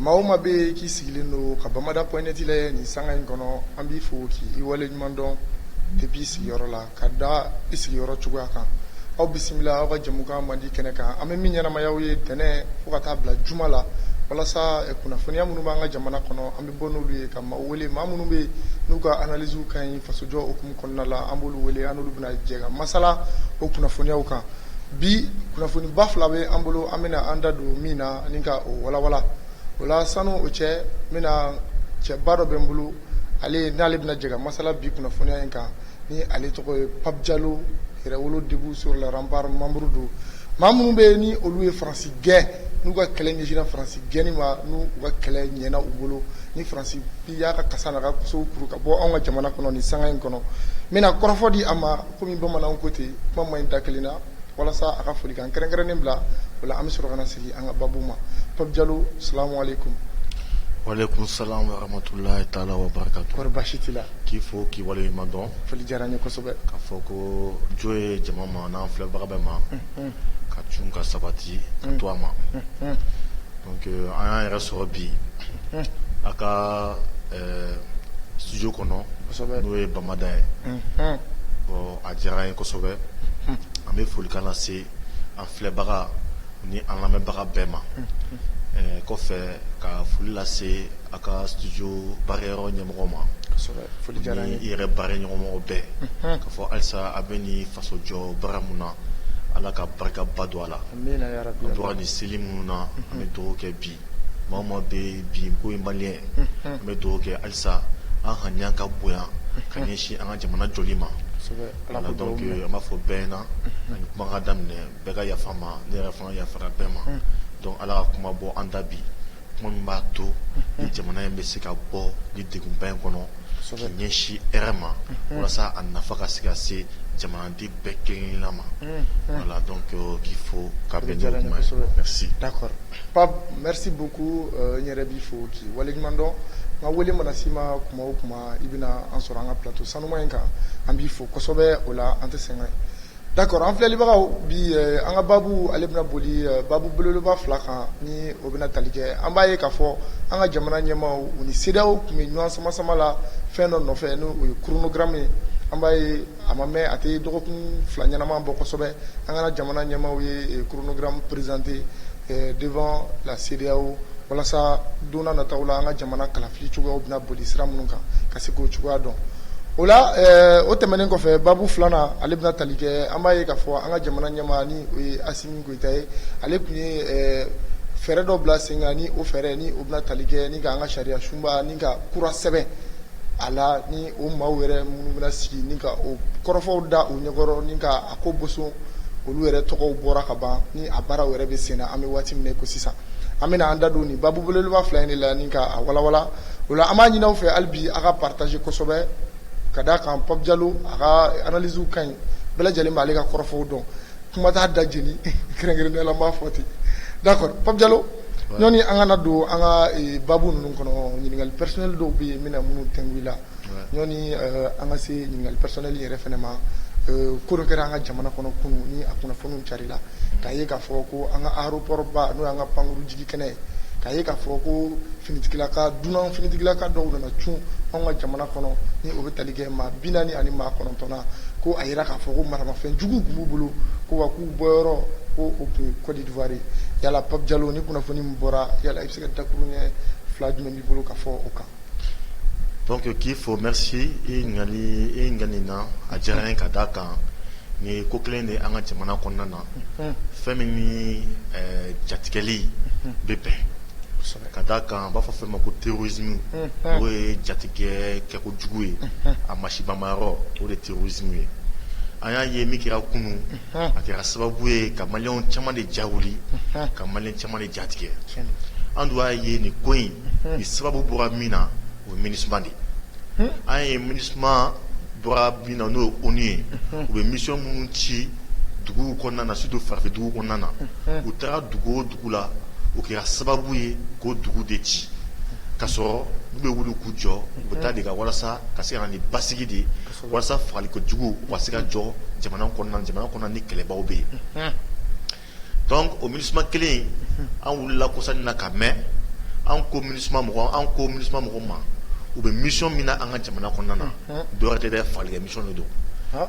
Maa o maa bɛ k'i sigilen don ka Bamada point net lajɛ nin sanga in kɔnɔ an b'i fo k'i waleɲuman dɔn depuis i sigiyɔrɔ la ka da i sigiyɔrɔ cogoya kan aw bisimila aw ka jɛmukan mandi kɛnɛ kan an bɛ min ɲɛnamaya aw ye tɛnɛ fo ka taa bila juma la walasa eh, kunnafoniya minnu b'an ka jamana kɔnɔ an bɛ bɔ n'olu ye ka maaw wele maa minnu bɛ yen n'u ka analysew ka ɲi fasojɔ hukumu kɔnɔna la an b'olu wele an n'olu bɛna jɛ ka masala o kunnafoniyaw kan bi kunnafoniba fila bɛ an bolo an bɛna an da don min na ani ka o walawala o la sanu o cɛ n bɛna cɛba dɔ bɛ n bolo ale n'ale bɛna jɛ ka masala bi kunnafoniya in kan ni ale tɔgɔ ye Pape Diallo Yɛrɛwolo debout sur les remparts membre don maa minnu bɛ ni olu ye Faransi gɛn n'u ka kɛlɛ ɲɛsinna Faransi gɛnni ma n'u ka kɛlɛ ɲɛna u bolo ni Faransi bi y'a ka kasa n'a ka so kuru ka bɔ anw ka jamana kɔnɔ ni sanga in kɔnɔ n bɛna kɔrɔfɔ di a ma kɔmi bamanan ko ten kuma man ɲi da kelen na walasa a ka folikan kɛrɛnkɛrɛnnen bila o la an bɛ sɔrɔ ka na sigi an ka baabu ma Pape Diallo salamu aleykum walaikum salam wa rahmatullahi ta'ala wa barakatuh kɔri basi t'i la k'i fo k'i waleɲuman dɔn foli diyara n ye kosɛbɛ ka fɔ ko jo ye jama ma n'an filɛbaga bɛɛ ma ka cun ka sabati ka to a ma donc an y'an yɛrɛ sɔrɔ bi a ka studio kɔnɔ n'o ye Bamada ye A diyara n ye kosɛbɛ an bɛ folikan lase an filɛbaga ni an lamɛnbaga bɛɛ ma kɔfɛ ka foli lase a ka studio baarayɔrɔ ɲɛmɔgɔ ma ni i yɛrɛ baaraɲɔgɔnmɔgɔ bɛɛ ka fɔ halisa a bɛ ni fasojɔ baara min na ala ka barikaba don a la an bɔra ni seli minnu na an bɛ dugawu kɛ bi Maa o maa bɛ bi k'i ye maliyɛn an bɛ dugawu kɛ halisa an haniya ka bonya ka ɲɛsin an ka jamana jɔli ma voilà donc an b'a fɔ bɛɛ na yani kuma ka daminɛ bɛɛ ka yafa n ma ne yɛrɛ fana yafara bɛɛ ma donc ala ka kuma bɔ an da bi kuma min b'a to ni jamana in bɛ se ka bɔ ni degunba in kɔnɔ ka ɲɛsin hɛrɛ ma walasa a nafa ka se ka se jamanaden bɛɛ kelenkelenna ma voilà donc k'i fo ka bɛn n'o kuma ye merci d'accord Pape merci beaucoup n yɛrɛ b'i fo k'i waleɲumandɔn n ka wele mana s'i ma tuma o tuma i bɛna an sɔrɔ an ka plateau sanuma in kan an b'i fo kosɛbɛ o la an tɛ sɛgɛn d'accord an filɛlibagaw bi an ka baabu ale bɛna boli baabu belebeleba fila kan ni o bɛna tali kɛ an b'a ye k'a fɔ an ka jamana ɲɛmaaw u ni CEDEAO tun bɛ ɲɔgɔn sama-sama la fɛn dɔ nɔfɛ n'o ye chronogramme ye an b'a ye a ma mɛ a tɛ dɔgɔkun fila ɲɛnama bɔ kosɛbɛ an ka jamana ɲɛmaaw ye chronogramme présenté devant la CEDEAO walasa don nataw la an ka jamana kalafili cogoyaw bɛna boli sira minnu kan ka se k'o cogoya dɔn o la o tɛmɛnen kɔfɛ babu filanan ale bɛna tali kɛ an b'a ye k'a fɔ an ka jamana ɲɛmaa ni o ye Asimi Goyita ye ale tun ye fɛɛrɛ dɔ bila sen kan ni o fɛɛrɛ ni o bɛna tali kɛ ni ka an ka sariya sunba ni ka kura sɛbɛn a la ni o maaw yɛrɛ minnu bɛna sigi ni ka o kɔrɔfɔw da o ɲɛkɔrɔ ni ka a ko boson olu yɛrɛ tɔgɔw bɔra ka ban ni a baaraw yɛrɛ bɛ sen na an bɛ waati min na ko sisan an bɛna an da don nin babu belebeleba fila in de la ni ka a walawala o la an b'a ɲini aw fɛ hali bi a ka partager kosɛbɛ ka da a kan Pape Diallo a ka analysew ka ɲi bɛɛ lajɛlen b'ale ka kɔrɔfɔw dɔn kuma t'a da jeni kɛrɛnkɛrɛnnenya la n b'a fɔ ten d'accord Pape Diallo ɲɔni an kana don an ka babu ninnu kɔnɔ ɲininkali personnel dɔw bɛ yen n bɛna minnu tɛnku i la ɲɔni an ka se ɲininkali personnel yɛrɛ fana ma ko dɔ kɛra an ka jamana kɔnɔ kunun ni a kunnafoniw carila k'a ye k'a fɔ ko an ka aéroport ba n'o y'an ka pankuru jigi kɛnɛ ye k'a ye k'a fɔ ko finitigilaka dunan finitigilaka dɔw nana cun an ka jamana kɔnɔ ni o bɛ tali kɛ Maa bi naani ani maa kɔnɔntɔnna ko a jira k'a fɔ ko maramafɛn juguw tun b'u bolo ko wa k'u bɔyɔrɔ ko o tun ye kɔdiwari ye yala Pape Diallo ni kunnafoni min bɔra yala i bɛ se ka dakuru ɲɛ fila jumɛn b'i bolo ka fɔ o kan donc k'i fo merci i ka nin na a diyara n ye ka da a kan nin ye ko kelen de an ka jamana kɔnɔna na fɛn min ni jatigɛli bɛ bɛn ka da a kan an b'a fɔ fɛn ma ko terrorisme o ye jatigɛ kɛ kojugu ye a masibamayɔrɔ o de terrorisme ye an y'a ye min kɛra kunun a kɛra sababu ye ka malien caman de ja wuli ka malien caman de ja tigɛ an dun y'a ye nin ko in nin sababu bɔra min na o ye Minusma de ye an ye Minusma bɔra min na n'o ye ONU ye u bɛ mission minnu ci duguw kɔnɔna na surtout farafin duguw kɔnɔna na u taara dugu o dugu la o kɛra sababu ye k'o dugu de ci k'a sɔrɔ n'u bɛ wuli k'u jɔ u bɛ taa de ka walasa ka se ka na ni basigi de walasa fagali kojugu u ka se ka jɔ jamana kɔnɔna jamana kɔnɔna ni kɛlɛbaw bɛ yen donc o Minusma kelen an wulila kɔsa in na k'a mɛn an ko Minusma mɔgɔ ma u bɛ mission min na an ka jamana kɔnɔna na dɔ wɛrɛ tɛ fagali kɛ mission de don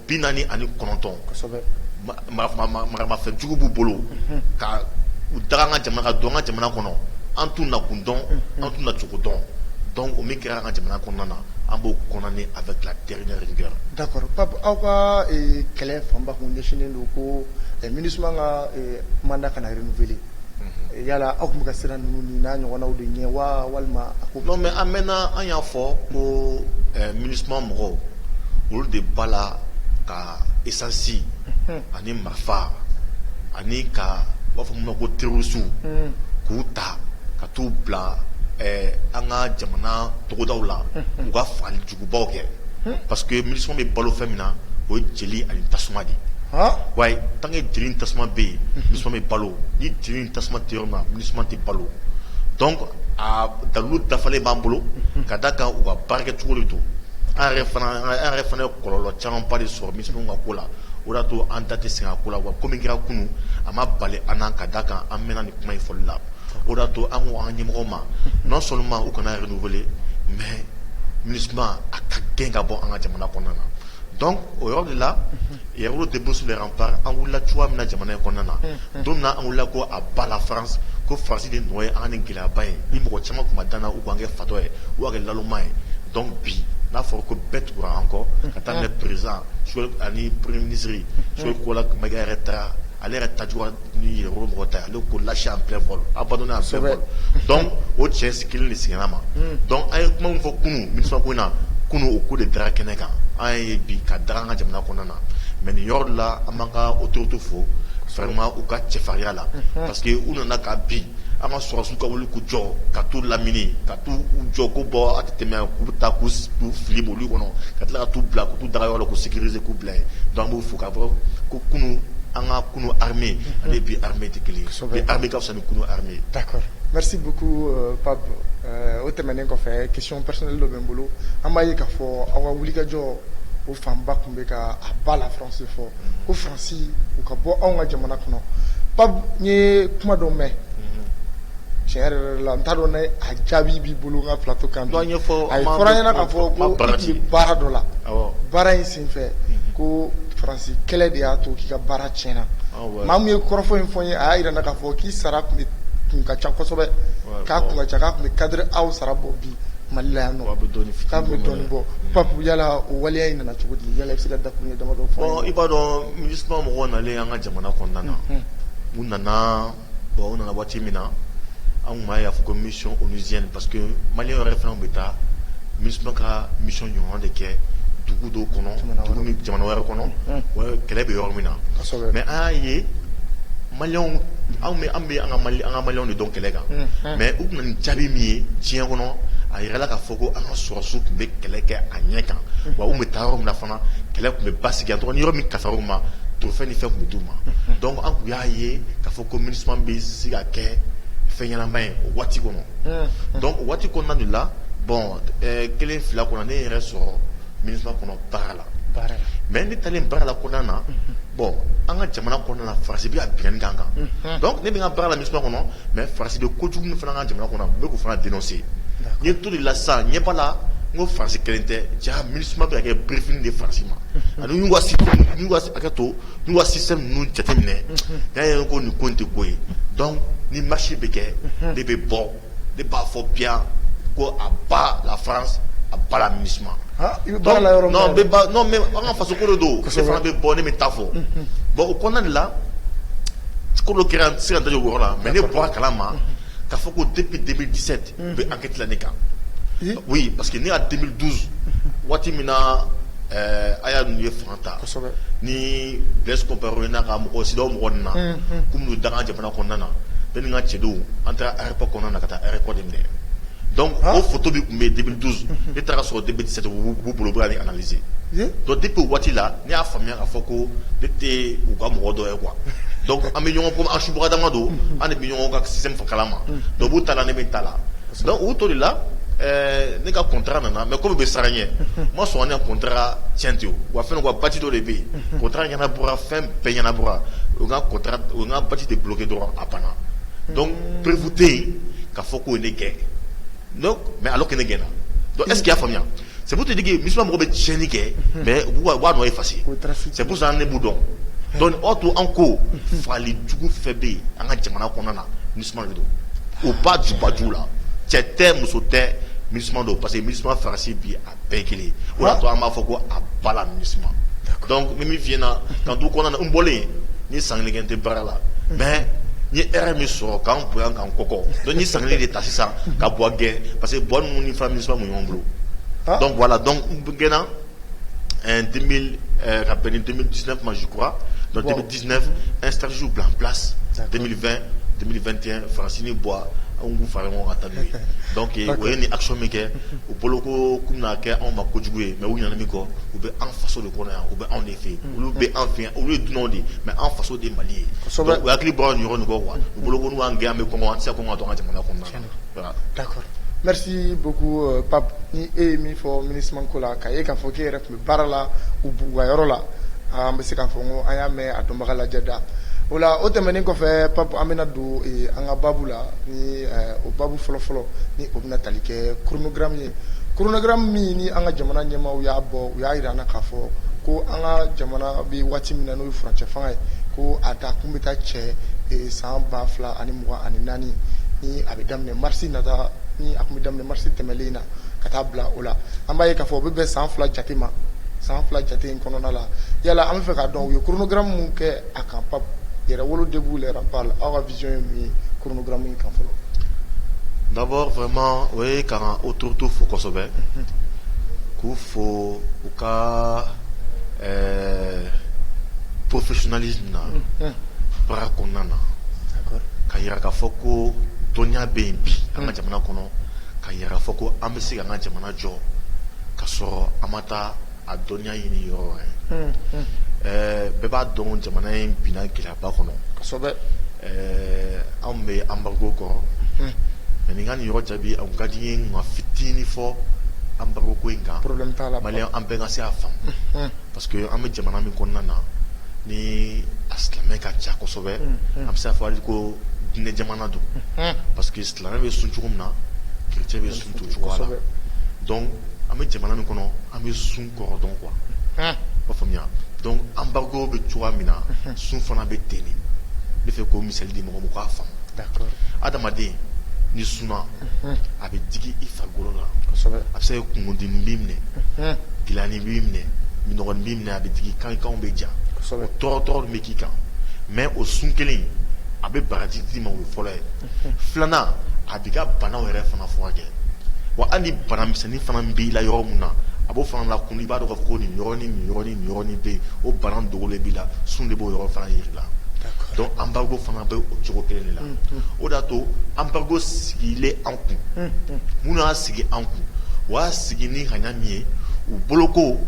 bi naani ani kɔnɔntɔn maramafɛn jugu b'u bolo ka u da an ka jamana ka don an ka jamana kɔnɔ an t'u nakun dɔn an t'u na cogo dɔn donc o min kɛra an ka jamana kɔnɔna na an b'o condamner avec la dernière rigueur d'accord aw ka kɛlɛ fanba tun ɲɛsinnen don ko Minusma ka mandat kana renouveler Yala aw tun ka siran ninnu n'a ɲɔgɔnw de ɲɛ wa walima mais an mɛnna an y'a fɔ ko MINUSMA mɔgɔw olu de b'a la ka essence ani marifa ani ka b'a fɔ mun ma ko terorisiw k'u ta ka t'u bila an ka jamana togodaw la u ka faali jugubaw kɛ parce que MINUSMA bɛ balo fɛn min na o ye jeli ani tasuma de wa tant que jeli tasuma bɛ yen MINUSMA bɛ balo ni jeli tasuma tɛ yɔrɔ MINUSMA tɛ balo donc a dalu dafalen b'an bolo ka da kan u ka baarakɛcogo de don u yɛrɛ fana ye kɔlɔlɔ caman ba de sɔrɔ MINUSMA ka ko la o y'a to an da tɛ se ko la wa ko min kɛra kunun a ma bali an na ka da kan an mɛnna ni kuma in fɔli la o y'a to an ko an ɲɛmɔgɔw ma non seulement u kana renouveler mais MINUSMA a k'a gɛn ka bɔ an ka jamana kɔnɔna na Donc o yɔrɔ de la Yɛrɛwolo debout sur les remparts an wulila cogoya min na jamana in kɔnɔna na, unhun, don min na an wulila ko à bas la France ko France de nɔ ye an ka nin gɛlɛyaba in ye mɔgɔ caman tun ma da an na u k'an kɛ fatɔ ye u k'an kɛ nalonma ye donc bi n'a fɔra ko bɛɛ tugura an kɔ ka daminɛ président ani premier ministre Choguel Kokalla Maïga yɛrɛ taara ale yɛrɛ ta jugu ni Yɛrɛwolo mɔgɔw ta ye ale ko lâché en plein vol abandonné en plein vol donc o cɛ si kelen de sigila ma donc an ye kuma min fɔ kunu MINUSMA ko in na kunu o ko de dara kɛnɛ kan an y'a ye bi ka daga an ka jamana kɔnɔna na mais nin yɔrɔ de la an b'an ka autorités fo vraiment u ka cɛfarinya la parce que u nana ka bin an ka sɔrɔdasiw ka wuli k'u jɔ ka t'u lamini ka t'u jɔ ko bon a tɛ tɛmɛ yan k'u bɛ taa k'u fili mobili kɔnɔ ka tila ka t'u bila ka t'u daga yɔrɔ la k'u sécuriser k'u bila Dɔnku b'o fo ka bɔ ko kunun an ka kunun ha ale bi ha tɛ kelen bɛ ka fisa kunun ha o tɛmɛnen kɔfɛ kecon psili dɔ bɛ n bolo an b'a ye ka fɔ aw ka wulikajɔ o fanba tun bɛ ka a ba la fse fɔ ko fasi u ka bɔ anw ka jamana kɔnɔ pan ye kuma dɔ mɛn cɛ yɛrɛ la n t'a dɔn a jaabi b'i bolo ka filato kan ɲɛfɔ a fɔra ɲɛna ka fɔ baara dɔ la baara fɛ ko faransi kɛlɛ de y'a to k'i ka baara tiɲɛna maa min ye kɔrɔfɔ in fɔ n ye a y'a jira n na k'a fɔ k'i sara kun ka ca kosɛbɛ k'a kun ka ca k'a tun bɛ cadre aw sara bɔ bi Mali la yan k'a tun bɛ dɔɔnin bɔ Pape yala o waleya in nana cogo di yala i bɛ se ka dakuruɲɛ damadɔ fɔ i b'a dɔn MINUSMA mɔgɔw nalen an ka jamana kɔnɔna na u nana Bon o nana waati min na an tun b'a ye k'a fɔ ko mission onusienne parce que maliyɛn yɛrɛ fana tun bɛ taa MINUSMA ka mission ɲɔgɔn de kɛ dugu dɔw kɔnɔ jamana wɛrɛ kɔnɔ kɛlɛ bɛ yɔrɔ min na mais an y'a ye maliyɛnw anw bɛ an ka maliyɛnw de dɔn kɛlɛ kan mais u tun na ni jaabi min ye diɲɛ kɔnɔ a jirala k'a fɔ ko an ka sɔrɔsiw tun bɛ kɛlɛ kɛ a ɲɛ kan wa u tun bɛ taa yɔrɔ min na fana kɛlɛ tun bɛ basigi yan donc ni yɔrɔ min kasaw ma trophée ni fɛn tun bɛ d'u ma donc an tun y'a ye k'a fɔ ko MINUSMA bɛ se ka kɛ fɛn ɲɛnama ye o waati kɔnɔ donc o waati kɔnɔna de la bon kelen fila kɔnɔ ne ye n yɛrɛ sɔrɔ MINUSMA kɔnɔ baara la mɛ ne taa baara la ko na bɔn an ka jamana kɔnɔna farasi ka bi dan kan ne bɛna ka baara la ni kɔnɔ mɛ farasi kojugu fana ka jamana kɔnɔ bɛ fana den sen ye to la sa ɲɛ bala la n ko farasi kelen tɛ ja mi bɛ kɛ berefini de farasi ma ani to sisan ninnu jateminɛ' ye ko nin ko tɛ ko ye ni masi bɛ kɛ de bɛ bɔ ne b'a fɔ bien ko à bas la France à bas la MINUSMA aa i bɛ baara la yɔrɔ min na dɛ non mais an ka faso ko de don, kosɛbɛ, ne fana bɛ bɔ ne bɛ taa a fɔ bon o kɔnɔna de la ko dɔ kɛra n tɛ se ka da don o yɔrɔ la mais ne bɔra a kalama k'a fɔ ko depuis 2017 u bɛ enquête la ne kan oui parce que ne ka 2012 waati min na ɛɛ Haya ninnu ye fanga ta, kosɛbɛ, ni Blaise Compaoré n'a ka mɔgɔw CEDEAO mɔgɔ ninnu nana k'u bɛna don an ka jamana A ko nana bɛ ka cɛdenw an taara rep kɔnɔna na ka taa rep de minɛ dɔn ko futu bɛ tun bɛ dibi duuru e taara sɔrɔ de bɛ se b'u bolo bɛ ni alazse dɔn de bɛ waati la ne y'a faamuyaya'a fɔ ko ne tɛ u ka mɔgɔ dɔ ye kuwa dɔn an bɛ ɲɔgɔn ko asuugadamama don an bɛ ɲɔgɔn ka sin fo kala ma dɔw b'u ta ne bɛ ta la u to de la ne ka kɔnta nana mɛ kɔmi bɛ siran n ɲɛ ma sɔn kɔnta cɛnti wa fɛn ka ba dɔ de bɛ yen kɔnta ɲɛna bɔra fɔ Fɛn bɛɛ ɲɛnabɔra u ye n ka contrat u ye n ka badge de bloquer dɔrɔn a bana donc preuve tɛ yen k'a fɔ k'u ye ne gɛn donc mais alors que ne gɛnna donc est ce que i y'a faamuya c'est pour te dire que MINUSMA mɔgɔw bɛ tiɲɛni kɛ mais u b'u ka nɔ effacer c'est pour ça que ne b'u dɔn donc o y'a to an ko fagali jugu fɛn bɛ yen an ka jamana kɔnɔna na MINUSMA de don o b'a ju baju la cɛ tɛ muso tɛ MINUSMA don parce que MINUSMA Faransi bi a bɛɛ ye kelen ye o de y'a to an b'a fɔ ko à bas la MINUSMA donc n bɛ min f'i ɲɛna k'an to o kɔnɔna na n bɔlen n ye san kelen kɛ n tɛ baara la mais n ye hɛrɛ min sɔrɔ ka n bonya ka n kɔkɔ donc n ye san kelen de ta sisan ka buwa gɛn parce que buwa ninnu ni fɛn MINUSMA ninnu bɛ ɲɔgɔn bolo donc voilà donc n gɛnna 2000 ka bɛn ni 2019 ma je crois donc 2019 2019 an ye stratégie bila en place 2020 2021 France ni buwa an k'u fara ɲɔgɔn kan ka taa n'u ye donc u ye nin action min kɛ u bolo ko k'u bɛna kɛ anw ma kojugu ye mais u ɲinɛna min kɔ u bɛ an faso de kɔnɔ yan u bɛ anw de fɛ yen olu bɛ anw fɛ yan olu ye dunanw de ye mais anw faso de ye Mali ye donc u hakili bɔra nin yɔrɔ nin kɔ quoi u bolo ko n'u y'an gɛn an bɛ kɔngɔ an tɛ se ka kɔngɔ ka to an ka jamana kɔnɔna na voilà d'accord merci beaucoup Pape ni e ye min fɔ MINUSMA ko la k'a ye k'a fɔ k'e yɛrɛ tun baara la u bugu yɔrɔ la an bɛ se k'a fɔ ko an y'a mɛn a dɔnbaga lajɛda o la o tɛmɛnen kɔfɛ pap an bɛna don an ka baabu la ni o baabu fɔlɔfɔlɔ ni o bɛna tali kɛ chronogramme ye chronogramme min ni an ka jamana ɲɛmaaw y'a bɔ u y'a yira an na k'a fɔ ko an ka jamana bɛ waati min na n'o ye furancɛ fanga ye ko a da kun bɛ taa cɛ san ba fila ani mugan ani naani ni a bɛ daminɛ marisi nata ni a tun bɛ daminɛ marisi tɛmɛlen na ka taa bila o la an b'a ye k'a fɔ o bɛ bɛn san fila jate ma san fila jate in kɔnɔna la yala an b'a fɛ k'a dɔn u ye chronogramme min kɛ a kan pap yɛrɛwolo debout les remparts aw ka vision ye mun ye chronogramme in kan fɔlɔ d'abord vraiment o ye k'an autoritéw fo kosɛbɛ k'u fo u ka ɛɛ professionnalisme na baara kɔnɔna na k'a yira k'a fɔ ko dɔnniya bɛ yen bi an ka jamana kɔnɔ k'a yira k'a fɔ ko an bɛ se k'an ka jamana jɔ ka sɔrɔ an ma taa a dɔnniya ɲini yɔrɔ wɛrɛ bɛɛ b'a dɔn jamana in binna gɛlɛyaba kɔnɔ anw bɛ embargo kɔrɔ mais ni n ka nin yɔrɔ jaabi a ka di n ye n ka fitinin fɔ embargo ko in kan an bɛɛ ka se k'a faamu parce que an bɛ jamana min kɔnɔna na ni a silamɛ ka ca kosɛbɛ an bɛ se k'a fɔ ko diinɛ jamana don parce que silamɛ bɛ sun cogo min na chrétien bɛ sun ten cogoya la donc an bɛ jamana min kɔnɔ an bɛ sun kɔrɔ dɔn quoi i b'a faamuya donc embargo bɛ cogoya min na sun fana bɛ ten de n b'a fɛ k'o misali di mɔgɔw ma u k'a faamu adamaden n'i sunna a bɛ digi i farikolo la a bɛ se ka kungolodimi b'i minɛ gɛlɛyanin b'i minɛ minnɔgɔnin b'i minɛ a bɛ digi i kan kanw bɛ ja o tɔɔrɔ tɔɔrɔ min bɛ k'i kan mais o sun kelen in a bɛ baraji d'i ma o ye fɔlɔ ye filanan a b'i ka bana yɛrɛ fana furakɛ wa hali banamisɛnnin fana b'i la yɔrɔ min na a b'o fana lakunu i b'a dɔn k'a fɔ ko nin yɔrɔ ni nin yɔrɔ ni nin yɔrɔ ni bɛ yen o bana dogolen b'i la sun de b'o yɔrɔ fana yira i la donc embargo fana bɛ o cogo kelen de la o de y'a to embargo sigilen an kun minnu y'a sigi an kun u y'a sigi ni ŋaniya min ye u bolo ko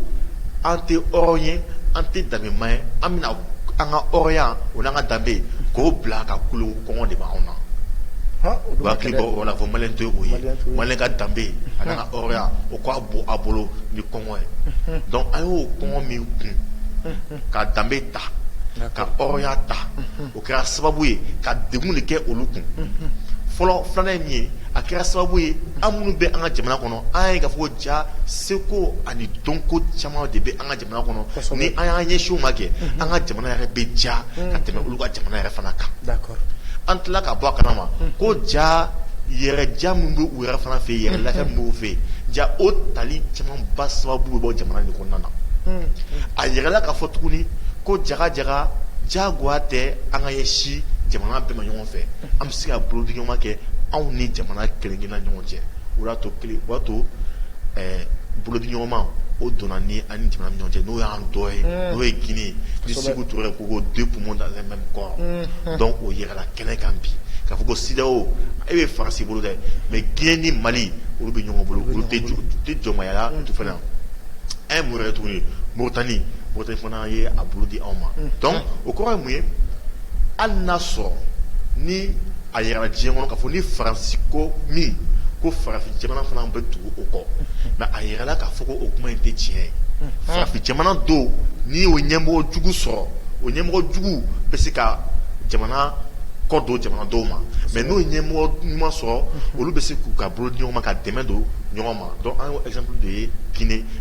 an tɛ hɔrɔn ye an tɛ danbeman ye an bɛna an ka hɔrɔnya o n'an ka danbe k'o bila ka kulo kɔngɔ de b'anw na han o dun ka gɛlɛn u hakili bɔ o la fo malien tɛ o ye malien t'o ye malien ka danbe a n'a ka hɔrɔnya o ka bon a bolo ni kɔngɔ ye unhun donc an y'o kɔngɔ min kun unhun ka danbe ta ka hɔrɔnya ta unhun o kɛra sababu ye ka degun de kɛ olu kun unhun fɔlɔ filanan ye min ye a kɛra sababu ye an minnu bɛ an ka jamana kɔnɔ an y'a ye k'a fɔ ko jaa seko ani dɔnko caman de bɛ an ka jamana ni an y'an ɲɛsin u ma kɛ an ka jamana yɛrɛ bɛ diya ka tɛmɛ olu ka jamana yɛrɛ fana kan an tila ka bɔ a kalama ko diya yɛrɛ diya min b'u yɛrɛ fana fɛ yen yɛrɛ la b'u fɛ diya o tali camanba sababu bɔ jamana de kɔnɔna na a jirala k'a fɔ tuguni ko jaa jaa jagoya tɛ an ka ɲɛsin jamana bɛɛ ma ɲɔgɔn fɛ an bɛ se ka bolodiɲɔgɔnma kɛ anw ni jamana kelen-kelenna ɲɔgɔn cɛ o y'a to ɛɛ bolodiɲɔgɔnma o donna ni an ni jamana ni ɲɔgɔn cɛ n'o y'an dɔ ye n'o ye Guinée ye ni Sékou Touré ko ko deux poumons dans un même corps donc o jirala kɛnɛ kan bi k'a fɔ ko CEDEAO e bɛ Faransi bolo dɛ mais Guinée ni Mali olu bɛ ɲɔgɔn bolo olu tɛ jɔ u tɛ jɔnmaya la u tɛ fɛn na an ye mun yɛrɛ ye tuguni Mauritanie Mauritanie fana ye a bolo di anw ma donc o kɔrɔ ye mun ye hali n'a sɔrɔ ni A jirala diɲɛ kɔnɔ ka fɔ ni Faransi ko min ko farafin jamana fana bɛ tugu o kɔ nka a jirala k'a fɔ ko o kuma in tɛ tiɲɛ ye farafin jamana dɔw n'i y'o ɲɛmɔgɔ jugu sɔrɔ o ɲɛmɔgɔ jugu bɛ se ka jamana kɔ don jamana dɔw ma mais n'o ɲɛmɔgɔ ɲuman sɔrɔ olu bɛ se k'u ka bolo di ɲɔgɔn ma ka dɛmɛ don ɲɔgɔn ma donc an ye exemple de ye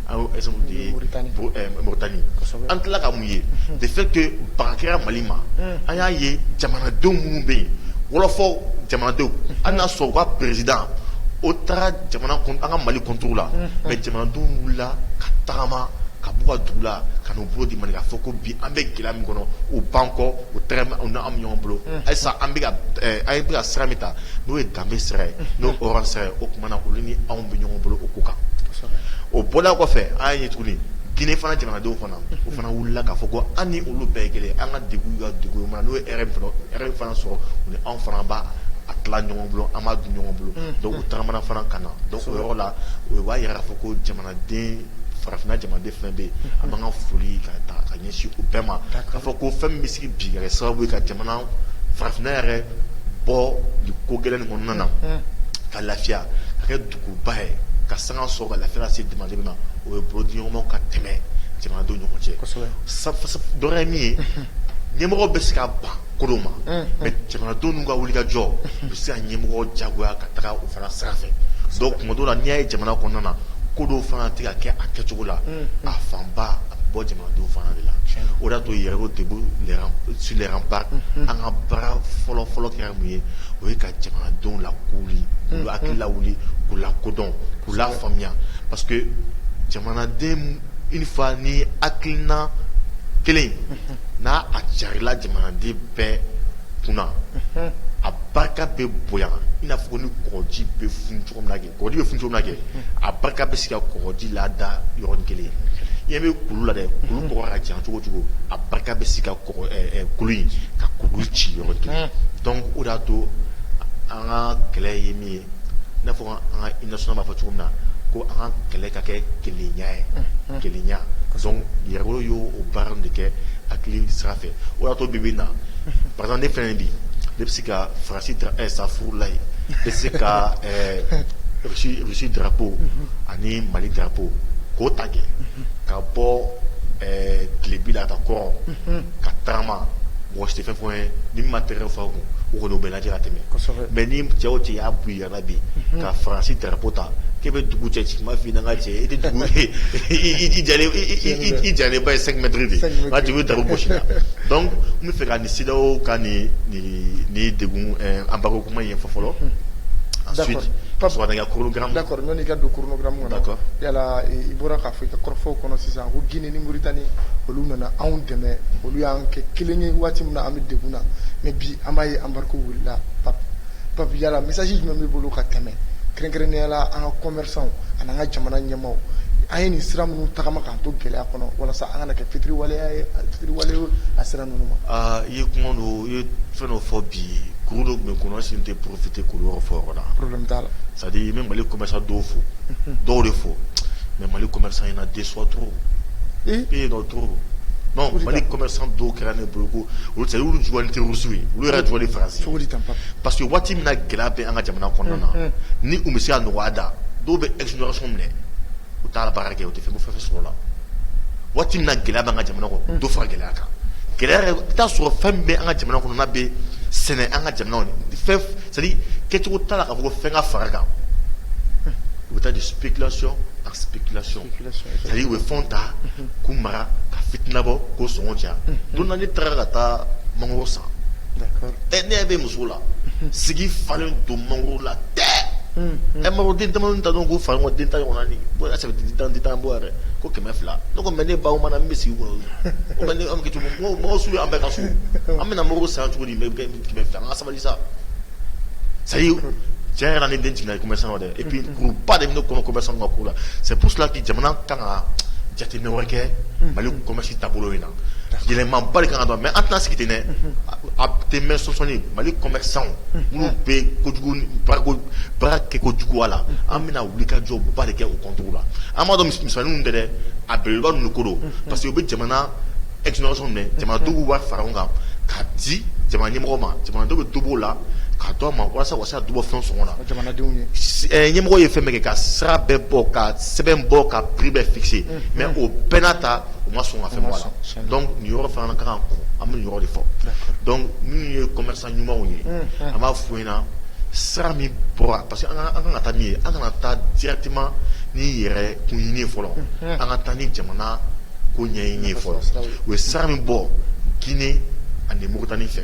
An ye exemple de ye Mauritanie an tila ka mun ye unhun de fait que baga kɛra Mali ma unh an y'a ye jamanadenw minnu bɛ yen wɔlɔfɔ jamanadenw unhun hali n'a sɔrɔ u ka président o taara jamana kun an ka Mali contre la unhun mais jamanadenw wulila ka tagama ka bɔ u ka dugu la ka na u bolo di Mali ka fɔ ko bi an bɛ gɛlɛya min kɔnɔ u b'an kɔ u tɛgɛ bɛ anw na anw bɛ ɲɔgɔn bolo unhun halisa an bɛ ka b ɛɛ an bɛ ka sira min ta n'o ye danbe sira ye n'o hɔrɔn sira ye o tuma na olu ni anw bɛ ɲɔgɔn bolo u ko kan o bɔla kɔfɛ an ye tuguni Guinée fana jamanadenw fana u fana wulila k'a fɔ ko an ni olu bɛɛ kelen an ka dugu ka dugu ma n'u ye min fana sɔrɔ u ni anw fana b'a tila ɲɔgɔn bolo an b'a dun ɲɔgɔn bolo donc u tagamana fana ka na donc o yɔrɔ la u b'a jira k'a fɔ ko jamanaden farafin jamanaden fɛn bɛ yen an b'an ka foli ka taa ka ɲɛsin u bɛɛ ma ka fɔ ko fɛn bɛ kɛ sababu ye ka jamana farafinna yɛrɛ bɔ ko gɛlɛn ninnu kɔnɔna na ka lafiya ka kɛ duguba ye ka sanga sɔrɔ ka lafiya se jamanaden bɛɛ ma o ye bolodiɲɔgɔnmaw ka tɛmɛ jamanadenw ɲɔgɔn cɛ dɔrɔn min ye ɲɛmɔgɔ bɛ se ka ban ko dɔ ma mais jamanadenw n'u ka wulikajɔ bɛ se ka ɲɛmɔgɔ jagoya ka taga u fana sira fɛ donc tuma dɔw la n'i y'a ye jamana kɔnɔna na ko dɔw fana tɛ ka kɛ a kɛcogo la a fanba bɔ jamanadenw fana de la o y'a to yɛrɛ Debout sur les remparts an ka baara fɔlɔ fɔlɔ kɛra mun ye o ye ka jamanadenw lakunun k'u hakili lawuli k'u lakodɔn k'u lafaamuya parce que jamanaden une fois ni hakilina kelen n'a a carila jamanaden bɛɛ kunna a barika bɛ bonya i n'a fɔ ko ni kɔgɔji bɛ funu cogo min kɛ kɔgɔji bɛ funu cogo min na kɛ, a barika bɛ se ka kɔgɔji lada yɔrɔnin kelen, i ɲɛ bɛ kulu la dɛ, kulu bɔgɔ ka ca cogo o cogo, a barika bɛ se ka kɔgɔ ɛ ɛ kulu in ka kulu ci yɔrɔnin kelen donc o de y'a to an ka kɛlɛ ye min ye, i n'a fɔ an ka hymne national b'a fɔ cogo min na, ko an ka kɛlɛ ka kɛ kelenya ye, unhun, kelenya donc Yɛrɛwolo ye o baara ninnu de kɛ hakili sira fɛ, o de y'a to bi bi in na par exemple ne filɛ nin ye bi ne bɛ se ka faransi safurulayi ne bɛ se ka Russie drapeau ani mali drapeau k'o ta kɛ ka bɔ tilebi la ka taa kɔrɔn ka taama mɔgɔ si tɛ fɛn fɔ n ye n'u ma tɛgɛrɛ fɔ n kun u kɔni bɛ n lajɛ ka tɛmɛ mais ni cɛya o cɛya b'i ye bi ka faransi drapeau ta k'i bɛ dugu cɛ ci n b'a fɔ n ka cɛ i tɛ dugu i ja ba ye cinq mètres de ye da gosi la donc n b'a fɛ ka nin CEDEAO ka nin degun embargo kuma ye fɔ fɔlɔ ensuite ka chronogramme da an ka don chronogramme na yala i bɔra k'a fɔ i ka kɔrɔfɔw kɔnɔ sisan ko Guinée ni Mauritanie olu nana anw dɛmɛ olu y'an kɛ kelen ye waati min na an bɛ degun na mais bi an b'a ye embargo wulila pa Pape yala message jumɛn b'i bolo ka tɛmɛ kɛrɛnkɛrɛnnenya la an ka commerçantw ani an ka jamana ɲɛmaaw an ye nin sira minnu tagama k'an to gɛlɛya kɔnɔ walasa an kana kɛ fitiriwaleya fitiriwale a sira ninnu ma i ye kuma dɔ i ye fɛn dɔ fɔ bi kuru dɔ bɛ n kɔnɔ si n tɛ profiter kuru dɔ fɔ yɔrɔ la c'est à dire n bɛ mali commerçant dɔw fo dɔw de fo mais mali commerçant in na deux sortes ye dɔw Mali commerçant dɔw kɛra ne bolo ko olu tɛ olu jɔlen tɛ Russie ye olu yɛrɛ jɔlen Faransi kɔ parce que waati min gɛlɛya bɛ an ka jamana kɔnɔna ni bɛ se nɔgɔyada dɔw bɛ exonération minɛ u taara baara kɛ u tɛ fɛn o fɛn sɔrɔ la waati min gɛlɛya bɛ an ka jamana kɔnɔ dɔ fara gɛlɛya kan gɛlɛya i t'a sɔrɔ fɛn bɛ an ka jamana kɔnɔ bɛ sɛnɛ an ka jamana kɛcogo taara ka bɔ fɛn ka fara a kan u bɛ taa de spéculation en spéculation u bɛ fɛn ta k'o mara ka fitinabɔ k'o sɔngɔ caya don ne taara ka taa mangolo san ɛ ne bɛ muso la segi falen don mangolo la tɛ ɛ mangolo den tan n t'a dɔn k'a fɔ den tan ɲɔgɔn den tan bɔ yɛrɛ ko kɛmɛ fila ne ko mais ne ba mangolo bɛ segi kɔnɔ mangolosun an bɛɛ ka so an bɛna mangolo san cogo di kɛmɛ fila sabali sisan c'est à dire cɛn yɛrɛ la ne den jiginna i ko commerçant la dɛ et puis kuruba de bɛ ne kɔnɔ commerçant ka ko la c'est pour cela que jamana kan ka jateminɛ wɛrɛ kɛ Mali commerce taabolo in na yɛlɛmaba de kan ka don mais an tɛna sigi ten dɛ a tɛ mɛn sɔɔni Mali commerçant minnu bɛ kojugu baarako baara kɛ kojugu a la an bɛna wulikajɔba de kɛ o contrôle la an b'a dɔn mis misɛnninw tɛ dɛ a belebeleba ninnu de ko don parce que u bɛ jamana exonération jamanadenw b'a fara ɲɔgɔn kan ka di jamana ɲɛmɔgɔ ma jamanadenw bɛ dɔ b'o la k'a d'u ma walasa u ka se ka dɔ bɔ fɛn sɔngɔ la ɲɛmɔgɔ ye fɛn bɛɛ kɛ ka sira bɛɛ bɔ ka sɛbɛn bɔ ka prix bɛɛ fixer mais o bɛɛ n'a ta u ma sɔn ka fɛn bɔ a la donc nin yɔrɔ fana kan an bɛ nin yɔrɔ de fɔ ye ta ɲumanw ye an b'a fɔ u ɲɛna sira min bɔra parce que an kan ka taa min ye an kana taa directement ni yɛrɛ kun ɲini fɔlɔ an ka taa ni jamana ko ɲɛɲini ye fɔlɔ u ye sira min bɔ Guinée ani Mauritanie fɛ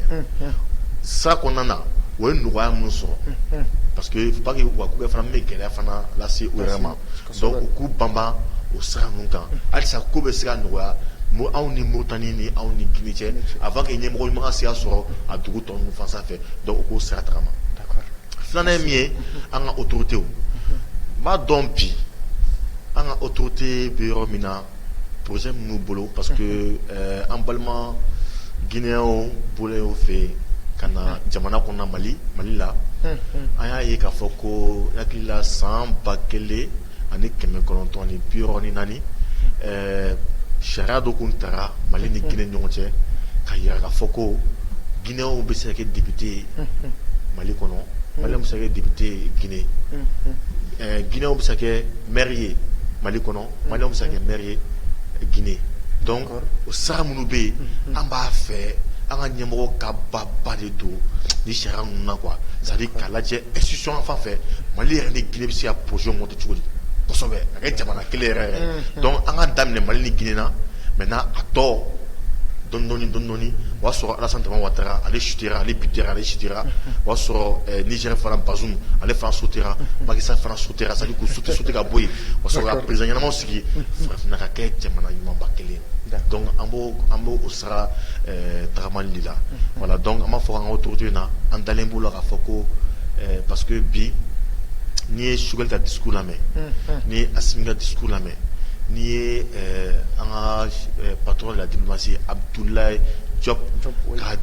sira kɔnɔna na o ye nɔgɔya minnu sɔrɔ parce que faut pas que wa bɛ fana bɛ gɛlɛya fana lase u yɛrɛ ma u k'u banban o sira ninnu kan halisa ko bɛ se ka nɔgɔya anw ni Mauritanie ni anw ni Guinée cɛ avant que ɲɛmɔgɔ ɲuman ka se ka sɔrɔ a dugu tɔ ninnu fan fɛ donc u k'o sira tagama filanan ye min ye an ka autoritéw n b'a dɔn bi an ka autorité bɛ yɔrɔ min na Projet minnu bolo parce que an balima Guinéenw bolo fɛ yen ka na jamana kɔnɔ mali mali la an y'a ye k'a fɔ ko n hakili la san ba kelen ani kɛmɛ kɔnɔntɔn ni bi wɔɔrɔ ni naani sariya dɔ tun tara mali ni Guinée ni ɲɔgɔn cɛ ka jira ka fɔ ko Guinéenw bɛ se ka kɛ député ye mali kɔnɔ Malienw bɛ se ka kɛ député ye Guinée Guinéenw bɛ se ka kɛ maire ye mali kɔnɔ Mali bɛ se kɛ m ye g dɔn o sara minnu bɛ yen an b'a fɛ an ka ɲɛmɔgɔ ka ba ba de don ni sira ninnu na qu sari k'a lajɛ esisi fan fɛ mali yɛrɛ ni gsi psi cogo disɛbɛ a kɛ jamana kelen yɛrɛ an ka daminɛ mali ni gina mɛ n' a tɔ dondɔn o y'a sɔrɔ Alassane Dramane Ouattara ale chuter ra, ale buter ra, ale chuter ra, o y'a sɔrɔ Niger fana Bazoum ale fana sauter ra, Macky Sall fana sauter ra, c'est à dire k'u sauter sauter ka bɔ yen, ka sɔrɔ ka president ɲɛnamaw sigi farafinna ka kɛ jamana ɲumanba kelen ye donc an b'o an b'o o sira ɛɛ tagamali de la voilà donc an b'a fɔ an ka autorités na an dalen b'u la k'a fɔ ko ɛɛ parce que bi n'i ye Choguel ka discours lamɛn, unhun, n'i ye Assimi ka discours lamɛn N'i ye an ka patron de la diplomatie Abdoulaye Diop ka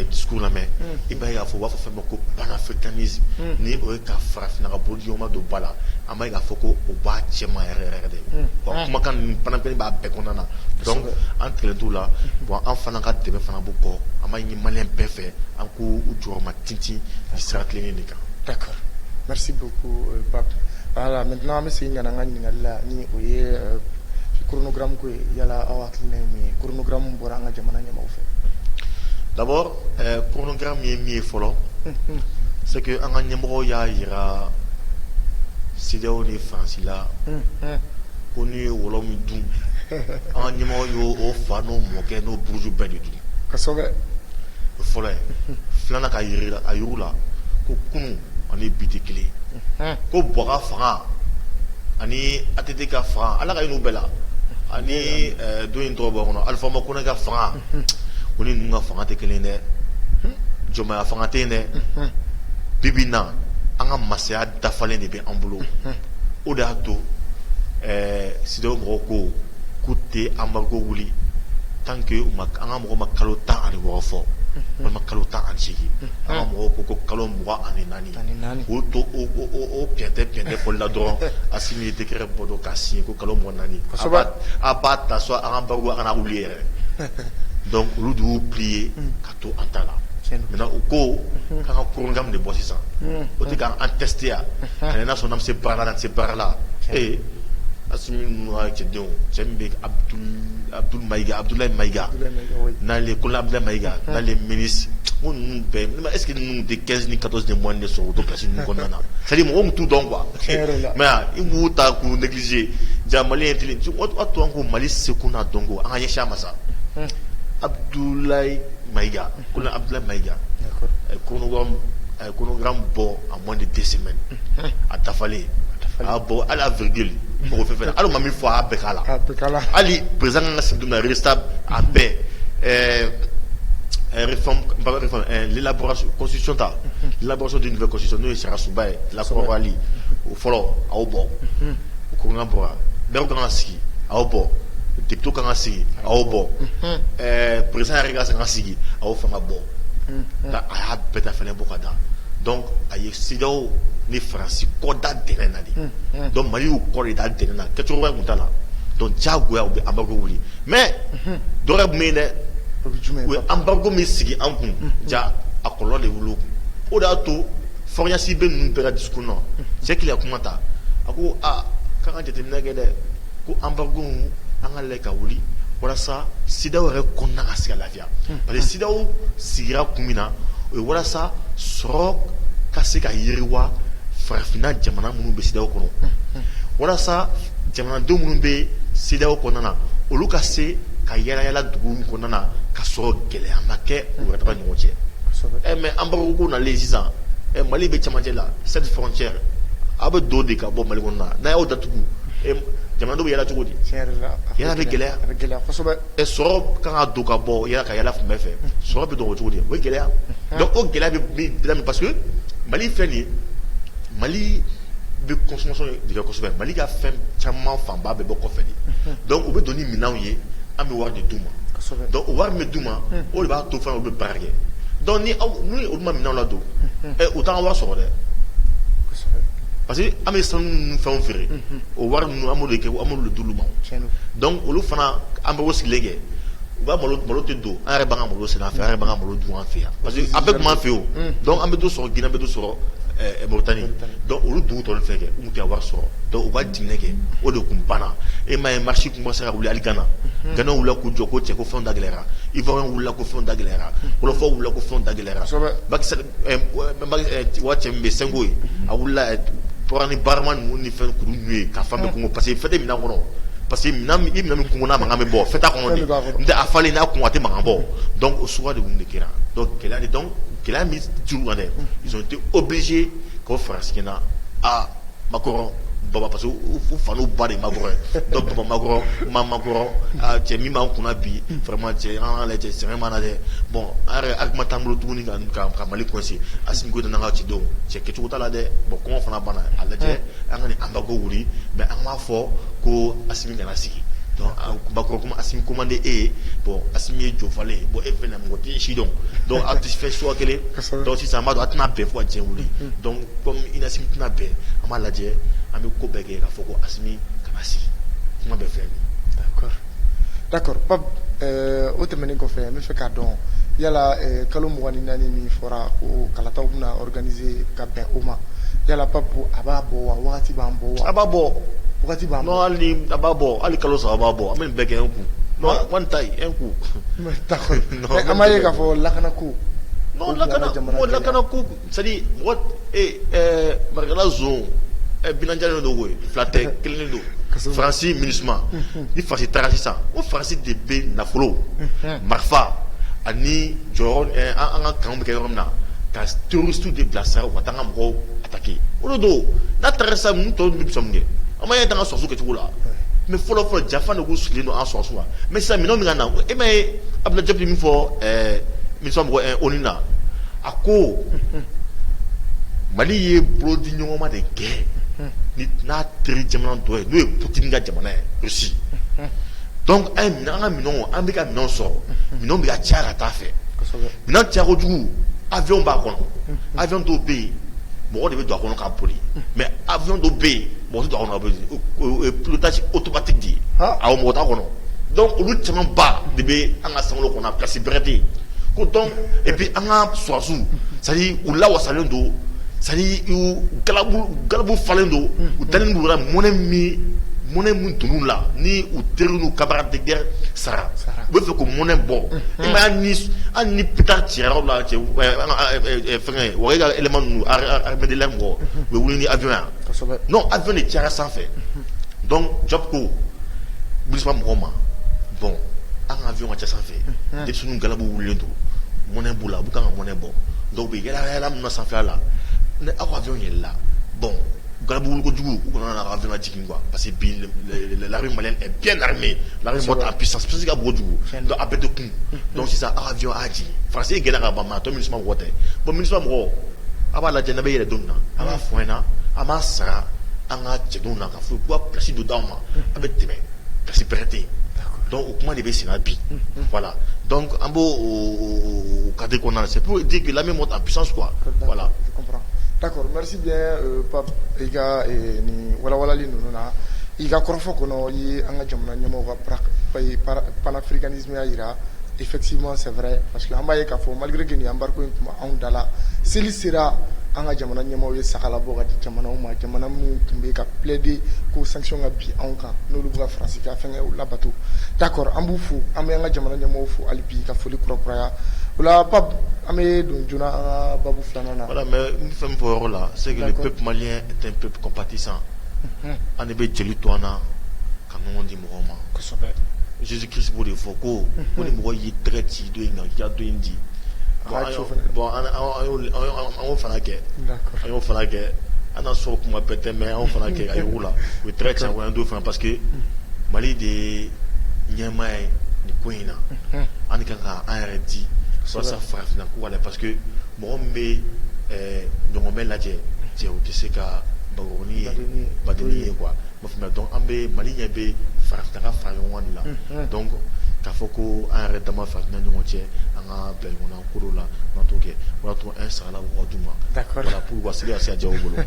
discours lamɛn i b'a ye k'a fɔ u b'a fɔ fɛn ma ko panafricanisme ni o ye ka farafinna ka bolodiɲɔgɔnma don ba la an b'a ye k'a fɔ ko o b'a cɛma yɛrɛ yɛrɛ de ye kumakan panafricanisme b'a bɛɛ kɔnɔna na donc an tigɛlen t'u la bon an fana ka dɛmɛ fana b'u kɔ an b'a ɲini Malien bɛɛ fɛ an ko u jɔ ma ten ci sira tilennen de kan d'accord merci beaucoup euh, Pape voilà maintenant an bɛ segin ka na an ka ɲininkali la ni o ye euh, chronogramme ko ye yala aw hakilina ye mun ye chronogramme bɔra an ka jamana ɲɛmaaw fɛ d'abord euh, chronogramme ye min ye fɔlɔ c'est que an ka ɲɛmɔgɔw y'a yira CEDEAO ni Faransi la ko n'u ye wɔlɔ min dun an ka ɲɛmɔgɔw y'o fa n'o mɔkɛ n'o buruju bɛɛ de dun o fɔlɔ filanan k'a yira u la ko kunun ani bi tɛ kelen ko Boua ka fanga ani ATT ka fanga ala ka hinɛ u bɛɛ la ani dɔ in tɔgɔ bɔ n kɔnɔ Alpha Oumar Konaré ka fanga k'o ni ninnu ka fanga tɛ kelen dɛ jɔnmaya fanga tɛ yen dɛ bi bi in na an ka masaya dafalen de bɛ an bolo o de y'a to CEDEAO mɔgɔw ko k'u tɛ embargo wuli tant que an ka mɔgɔw ma kalo tan ani wɔɔrɔ fɔ walima kalo tan ani segin an ka mɔgɔw ko ko kalo mugan ani naani k'u to o pɛntɛ pɛntɛ fɔ la dɔrɔn Assimi ye décret bɔ dɔrɔn k'a signé ko kalo mugan ni naani a b'a ta so an ka embargo a kana wuli yɛrɛ donc olu de y'u plié to an ta la u ko ka ka kokan de bɔ sisan o tɛ k'an tɛtiya ani n'a sɔnna se baara la se baara la ee a cɛdenw cɛ bɛ abudulayi mayika n'ale ko abudula mayika n'ale mini ko ninnu bɛɛ ne ma ese ninnu de kɛ ni ka de mɔni de sɔrɔ o to kasi ninnu kɔnɔna na sari mɔgɔ bɛ tu dɔn kuwa mɛ i b'u ta k'u delize ja mali ye kelen to an ko mali se ko n'a dɔn ko an ka ɲɛya masa Abudulayi maka ko abudula mayika a ye ko a ye kokan bɔ a mɔn de dɛsɛ sɛmɛ a dafalen a bɔ ala v mɔgɔ fɛ ala ma min fɔ a bɛɛ k' la hali perez ka sadu a bɛɛ lasiɔta labɔsɔ dun bɛsɔ n'o ye sasuba ye la o fɔlɔ aw bɔ u ko bɔ da kana ka sigi aw bɔ debito kana ka sigi aw bɔ pere yɛrɛ ka san ka sigi aw fanga bɔ nka a y'a bɛɛ da fana bɔ ka da a ye sidaw ni farasi kɔda d na de dɔn mali y'u kɔ de da d na kɛ cogo tun ta la dɔn jagoya bɛ anba wuli mɛ dɔgɔ tun bɛ yen dɛ u ye anba min sigi an kun ja a kɔlɔ de wolo kun o de y'a to Faure Gnassingbé ninnu bɛɛ ka discours kɔnɔ cɛ kelen kuma ta a ko aa k'an ka jateminɛ kɛ dɛ ko embargo an k'a lajɛ k'a wuli walasa CEDEAO yɛrɛ kɔnɔna ka se ka lafiya parce que CEDEAO sigira kun min na o ye walasa sɔrɔ ka se ka yiriwa farafinna jamana minnu bɛ CEDEAO kɔnɔ walasa jamanadenw minnu bɛ CEDEAO kɔnɔna na olu ka se ka yaalayaala dugu kɔnɔna na ka sɔrɔ gɛlɛya ma kɛ u yɛrɛ ka ɲɔgɔn cɛ ɛ mais embargo ko nalen sisan mali bɛ camancɛ la sept frontières aw bɛ don de ka bɔ mali kɔnɔ na n'a y'o datugu jamanadenw bɛ yaala cogo di bɛ gɛlɛya gɛlɛya sɔrɔ ka don ka bɔ ka yaala fan bɛɛ fɛ sɔrɔ bɛ don o cogo di o gɛlɛya o gɛlɛya bɛ parce que mali filɛ nin ye mali bɛ consommation de kɛ kosɛbɛ Mali ka fɛn caman fanba bɛɛ bɔ kɔfɛ de, unhun, donc u bɛ don ni minɛnw ye an bɛ wari de d'u ma, kosɛbɛ, donc o wari min bɛ d'u ma o de b'a to fana olu bɛ baara kɛ donc ni aw ni olu ma minɛnw ladon ɛ u t'an ka wari sɔrɔ dɛ, kosɛbɛ, parce que an bɛ sanu ni fɛnw feere o wari ninnu an b'olu de kɛ an b'olu de d'olu ma, tiɲɛ don, donc olu fana an bɛ o sigilen kɛ u ka malo malo tɛ don an yɛrɛ b'an ka malo sɛnɛ an fɛ yan, an yɛrɛ b'an ka malo dun an fɛ yan parce que a bɛɛ tun b'an fɛ yen o, unhun, donc an bɛ dɔ sɔrɔ Guinée an bɛ dɔ sɔrɔ olu dugu dɔw fɛ kɛ u tun tɛ wari sɔrɔ donc u ka jiginɛ kɛ o de tun banna e ma ye marche tun bɛ se ka wuli hali gana gana wilila k'u jɔ ko cɛ ko fɛn da gɛlɛyayara ivoirien wilila ko fɛn da gɛlɛyayara wolofɔw wilila ko fɛn da gɛlɛyayara cɛ min bɛ sonko ye a wilila ni barama ninnu ni fɛn kuru ninnu ye ka fan bɛɛ kɔnkɔn parce que fɛn tɛ minɛn kɔnɔ parce que minɛn min kɔnkɔn n'a makan bɛ bɔ fɛn t'a kɔnɔ a falen n'a kɔnkɔn a tɛ makan bɔ o su de tun de kɛra gɛlɛya gɛlɛya min tor'u kan dɛ, ils ont été obligés k'o faransikan na, aa Macron baba parce que u fa n'u ba de ye Macron ye donc baba Macron, ma Macron, aa cɛ min b'an kunna bi vraiment cɛ an k'a lajɛ sɛgɛn b'an na dɛ, bon an yɛrɛ argument t'an bolo tuguni ka Mali coincer Asimi Goyita n'an ka cidenw, cɛ kɛcogo t'a la dɛ, bon kɔngɔ fana b'an na, a lajɛ an ka nin embargo wuli mais an m'a fɔ ko Asimi kana sigi macron k'u ma asimi ko man di e ye bon asimi ye jɔnfalen ye bon e fɛnɛ mɔgɔ tɛ si dɔn donc a tɛ fɛn suguya kelen sisan an b'a dɔn a tɛna bɛn fo ka diɲɛ wuli donc kɔmi asimi tɛna bɛn an b'a lajɛ an bɛ ko bɛɛ kɛ k'a fɔ ko asimi kana sigi kuma bɛɛ filɛ nin d'accord pape o tɛmɛnen kɔfɛ n bɛ fɛ k'a dɔn yala kalo mugan ni naani min fɔra ko kalataw bɛna organiser ka bɛn o ma yala pape a b'a bɔ wa waati b'a bɔ wa a b'a bɔ b'a bɔ hali kalo saba b'a bɔ an bɛɛ gɛn kun kɔn ta e kun an'a ye k'a fɔ lakana ko lakana lakana ko marikala bja don fila tɛ kelen don farasi mini ni fasi taara sisan o fasi de bɛ nafolo marifa ani jɔ an ka kan bɛ kɛ yɔrɔ min na ka tuuru de bila sa ka taa ka mɔgɔw olu don n'a taara sisan ninnu tɔw bɛ fisa mun kɛ an ma ye dan ka sɔrɔsiw kɛcogo la mais fɔlɔ fɔlɔ janfa de k'u sigilen don an sɔrɔsiw la mais sisan minɛnw bɛ ka na e m'a ye abudulayi jɔpu min fɔ ɛɛ minusima mɔgɔ ɛɛ oni na a ko mali ye bolodiɲɔgɔnma de kɛ ni n'a teri jamana dɔ ye n'o ye putini ka jamana ye rusi donc an ye minɛn an ka minɛnw an bɛ ka minɛnw sɔrɔ minɛnw bɛ ka caya ka taa a fɛ minɛn caya kojugu avion b'a kɔnɔ avion dɔw bɛ yen mɔgɔ de bɛ don a kɔnɔ ka boli mɛ a bɛ yen mɔgɔ kɔnɔtasi otomati di ye a mɔgɔ kɔnɔ dɔnku olu caman ba de bɛ an ka san kɔnɔ kasi bɛɛte ko bɛ an ka susiw sa u la wasalen don sa gabu falen don u da mɔnɛ min mɔnɛ min dunun la ni u teri kaba dɛgɛ sara u bɛ fɛ ko mɔnɛ bɔ an ni pta cɛ la cɛ wagɛ ka élément ninnu armée de l'air mɔgɔ u bɛ wuli ni aviɔn yan non aviɔn de cayara sanfɛ donc jɔpu ko minusima mɔgɔw ma bon an ka aviɔn ka ca sanfɛ denmisɛnninw galabu wulilen don mɔnɛ b'u la u bɛ kan ka mɔnɛ bɔ donc u bɛ yaalayaala min na sanfɛla la ni aw ka aviɔn yɛlɛla bon galabu wuli kojugu u kana na aviɔn jigin parce que bi l'armée malienne est bien armée l'armée monte en puissance puissance ka bon kojugu donc a bɛɛ tɛ kun donc sisan aw ka avion a y'a jigin faransi yɛrɛ gɛnna ka ban mais a tɔ minusima mɔgɔ tɛ bon minusima mɔgɔ a b'a lajɛ n'a bɛ yɛlɛ don min na a b'a fɔ an ɲɛna an b'a sara an ka cɛdenw na ka fɔ k'u ka pilasi dɔ d'anw ma an bɛ tɛmɛ pilasi bɛrɛ tɛ yen donc o kuma de bɛ senna bi voilà donc an b'o o cadre kɔnɔna na c'est pour dire que l'armée monte en puissance quoi voilà d'accord merci I ka nin walanwalanli ninnu na i ka kɔrɔfɔ kɔnɔ i ye an ka jamana ɲɛmɔgɔw ka panafricanisme jira effectivement c'est vrai parce que an b'a ye k'a fɔ malgré que nin embargo in tun b'anw da la seli sera an ka jamana ɲɛmɔgɔw ye saga labɔ ka di jamanaw ma jamana minnu tun bɛ ka plaider ko sanction ka bin anw kan n'olu bɛ ka faransi ka fɛnw labato d'accord an b'u fo an bɛ an ka jamana ɲɛmɔgɔw fo hali bi ka foli kura kuraya voilà pape an bɛ don joona an ka babu fi Fɛn fɔ yɔrɔ la se pep mali tɛ pep pati san an bɛ jeli to an na ka ɲɔgɔn di mɔgɔw ma zsi kisi de fɔ ko ko ni mɔgɔ y'i tɛgɛ ci don in ja don in di bɔn fana kɛ a y'o fana kɛ an sɔrɔ kuma bɛɛ tɛ anw fana kɛ a la u tila cɛ don fana pa que mali de ɲɛmaa ye nin ko in na an ka kan k'an yɛrɛ di walasa farafinna ko la parce que mɔgɔ min bɛ ɲɔgɔmɛ lajɛ cɛ o tɛ se ka bakɔrɔnin ye ba ye quoi donc an bɛ maliyɛn bɛ farafinna ka fara ɲɔgɔn de la donc k'a fɔ ko an yɛrɛ dama farafinna ɲɔgɔn cɛ an ka bila ɲɔgɔn na ko dɔw la an t'o kɛ o y'a to an saga labɔ ka d'u ma voilà pour seli ka se ka diya u bolo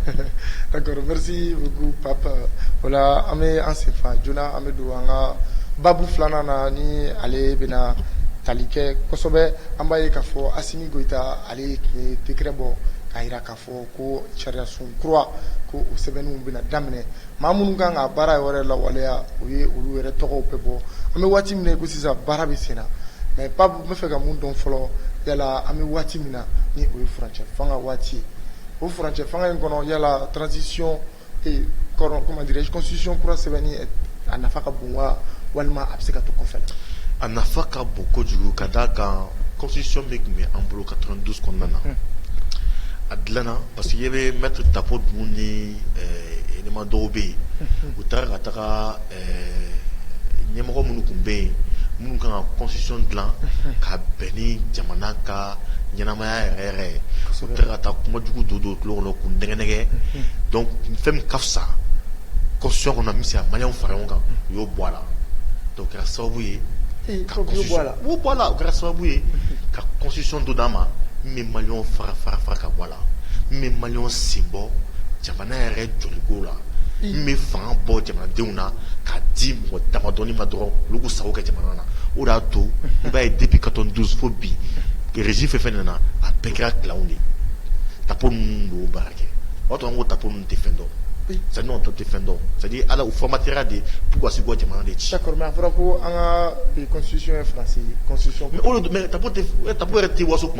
voilà an bɛ an senfa joona an bɛ An ka babu filanan na ni ale bɛna tali kɛ kosɛbɛ an b'a ye k'a fɔ Asimi Goyita ale ye décret bɔ k'a jira k'a fɔ ko sariyasun kura ko o sɛbɛnniw bɛna daminɛ maa minnu kan ka baara yɛrɛ lawaleya o ye olu yɛrɛ tɔgɔw bɛɛ bɔ an bɛ waati min na i ko sisan baara bɛ senna mais Pape n bɛ fɛ ka mun dɔn fɔlɔ yala an bɛ waati min na ni o ye furancɛ fanga waati ye o furancɛ fanga in kɔnɔ yala transition Ee kɔrɔ comment dirais je constitution kura sɛbɛnni ɛ a nafa ka bon waa walima a be se ka to kɔfɛ la a nafa ka bon kojugu ka d'a kan constitution min tun be an bolo 92 kɔnɔna na un a dilanna parce que i ɲɛ be maître Tapo Dumuni ni ɛɛ élément dɔw be yen unhun u taara ka taga ɛ ɲɛmɔgɔ minnu tun bɛ yen minnu ka kan ka constitution dilan ka bɛn ni jamana ka ɲɛnamaya yɛrɛ yɛrɛ ye u taara ka taa kuma jugu don don u tulo kɔnɔ k'u nɛgɛnnɛgɛn donc fɛn min ka fisa constitution kɔnɔ min bɛ se ka maliyɛnw fara ɲɔgɔn kan u y'o bɔ a la o kɛra sababu ye la o kɛra sababu ye ka constitution dɔ d'an ma min bɛ maliyɛnw fara fara fara ka bɔ a la min bɛ maliyɛnw sen bɔ jamana yɛrɛ jɔliko la min bɛ fanga bɔ jamanadenw na k'a di mɔgɔ damadɔni ma dɔrɔn olu k'u sago kɛ jamana na o de y'a to i b'a ye depuis 92 fo bi régime fɛn o fɛn nana a bɛɛ kɛra clan de ye tapo ninnu de y'o baara kɛ o y'a to an ko tapo ninnu tɛ fɛn dɔn c'est à dire tapo tɛ fɛn dɔn c'est à dire voilà u formatera de pour que ka se k'u ka jamana de ci d'accord mais a fɔra ko an ka constitution ye français constitution mais o de don mais tapo tɛ tapo yɛrɛ tɛ waso tuma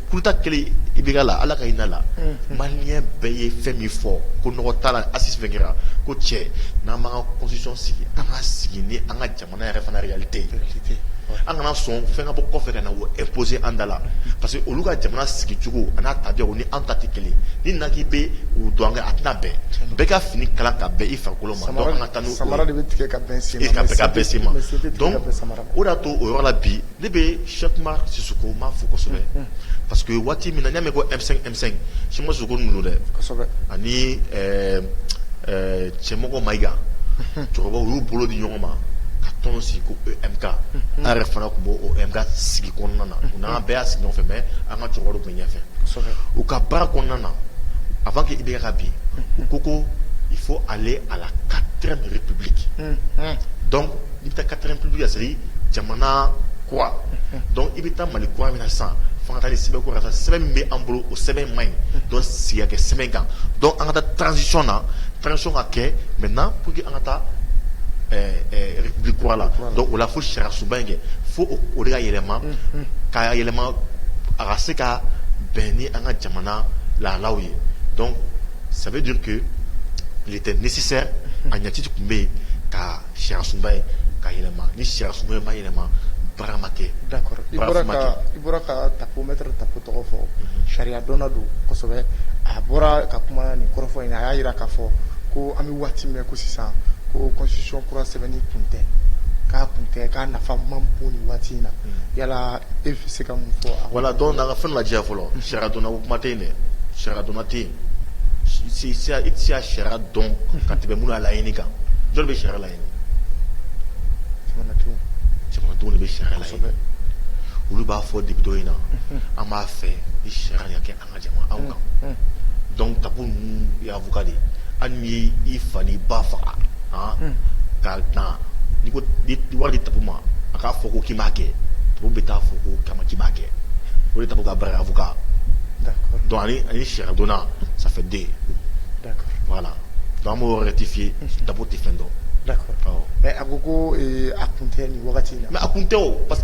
kuta kelen i bɛ la ala ka hinɛ la maliyɛn bɛɛ ye fɛn min fɔ ko nɔgɔ t'a la Assises fɛn kɛra ko cɛ n'an b'an ka constitution sigi an k'a sigi ni an ka jamana yɛrɛ fana réalité ye an kana sɔn fɛn ka bɔ kɔfɛ ka na imposer an da la parce que olu ka jamana sigi cogo a n'a tabiya ni an ta tɛ kelen ni na k'i bɛ o don a tɛna bɛn bɛɛ ka fini kala ka bɛn i farikolo ma taa ma o y'a to o yɔrɔ la bi Ne bɛ Cheick Oumar Sissoko n b'a fo kosɛbɛ parce que waati min na n y'a mɛn ko M5 Cheick Oumar Sissoko ninnu dɛ ani Cɛmɔgɔ Mayiga cɛkɔrɔba u y'u bolo di ɲɔgɔn ma ka tɔn sigi ko EMK an yɛrɛ fana tun b'o EMK sigi kɔnɔna na u n'an bɛɛ y'a sigi ɲɔgɔn fɛ mais an ka cɛkɔrɔbaw tun bɛ ɲɛfɛ u ka baara kɔnɔna na avant que IBK ka bin u ko il faut aller à la quatrième république I bɛ taa kata pbi ka siri jamana ko dɔn i bɛ taa mali ko min na san fanga sɛbɛn ko sɛbɛn min bɛ an bolo o sɛbɛn ma ɲi dɔn siya kɛ sɛbɛn kan dɔn an ka taa tsi na tsi ka kɛ mɛ n' ko an ka taa bi ko la o la fo sisuba in kɛ fo o de ka yɛlɛma ka yɛlɛma a ka se ka bɛn ni an ka jamana lalaw ye dɔn sabu duuruke tɛ misisɛ a ɲɛti tun bɛ yen ka Sariya sunba in ka yɛlɛma ni sariya sunba in ma yɛlɛma baara ma kɛ d'accord i bɔra ka i bɔra ka Tapo maître Tapo tɔgɔ fɔ sariya dɔnna don kosɛbɛ a bɔra ka kuma nin kɔrɔfɔ in na a y'a jira k'a fɔ ko an bɛ waati min na i ko sisan ko constitution kura sɛbɛnni kun tɛ k'a kun tɛ k'a nafa man bon nin waati in na yala E se ka mun fɔ wala dɔw nana fɛn la diya fɔlɔ sira dɔn o kuma tɛ in dɛ sira dɔnna tɛ yen sira sira dɔn ka tɛmɛ bolo a la ɲini kan jɔn bɛ sira la ɲini de bɛ sira la olu b'a fɔ de bɛ dɔ in na an b'a fɛ i sariya kɛ ka jama aw kan dɔn ta y'buka de an ye i fa ni ba faga ka taa wari ta ma a k'a fɔ ko k'i b'a kɛ to bɛ taa fɔ ko kama ci b'a kɛ o ta ka barikabuka dɔn ani sidonna sanfɛden wala don an b'o yɛrɛ tɛ fiye ta tɛ fɛn dɔn a ko ko a kun tɛ nin wagati na mɛ a kun tɛ o parce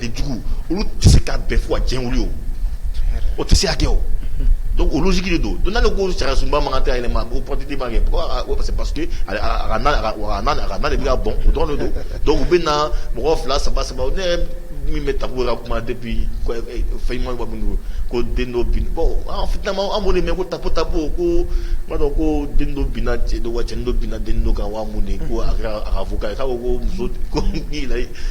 Jugu olu tɛ se ka bɛn fo ka diɲɛ wuli o tɛ se ka kɛ o donc o logique de don donc n'a ko sariya sunba man kan tɛ yɛlɛma ma ko politiki b'a kɛ parce que a ka na de bɛ bɔn o dɔrɔn don donc u bɛ na mɔgɔ fila saba saba ne min bɛ Tapo ka kuma depuis fɛn ɲuman minnu ko den dɔ bin mɛ ko Tapo Tapo m'a dɔn ko den dɔ binna cɛ dɔ kan wa cɛ dɔ binna den dɔ kan wa mun de ko a kɛra avocat ye ko muso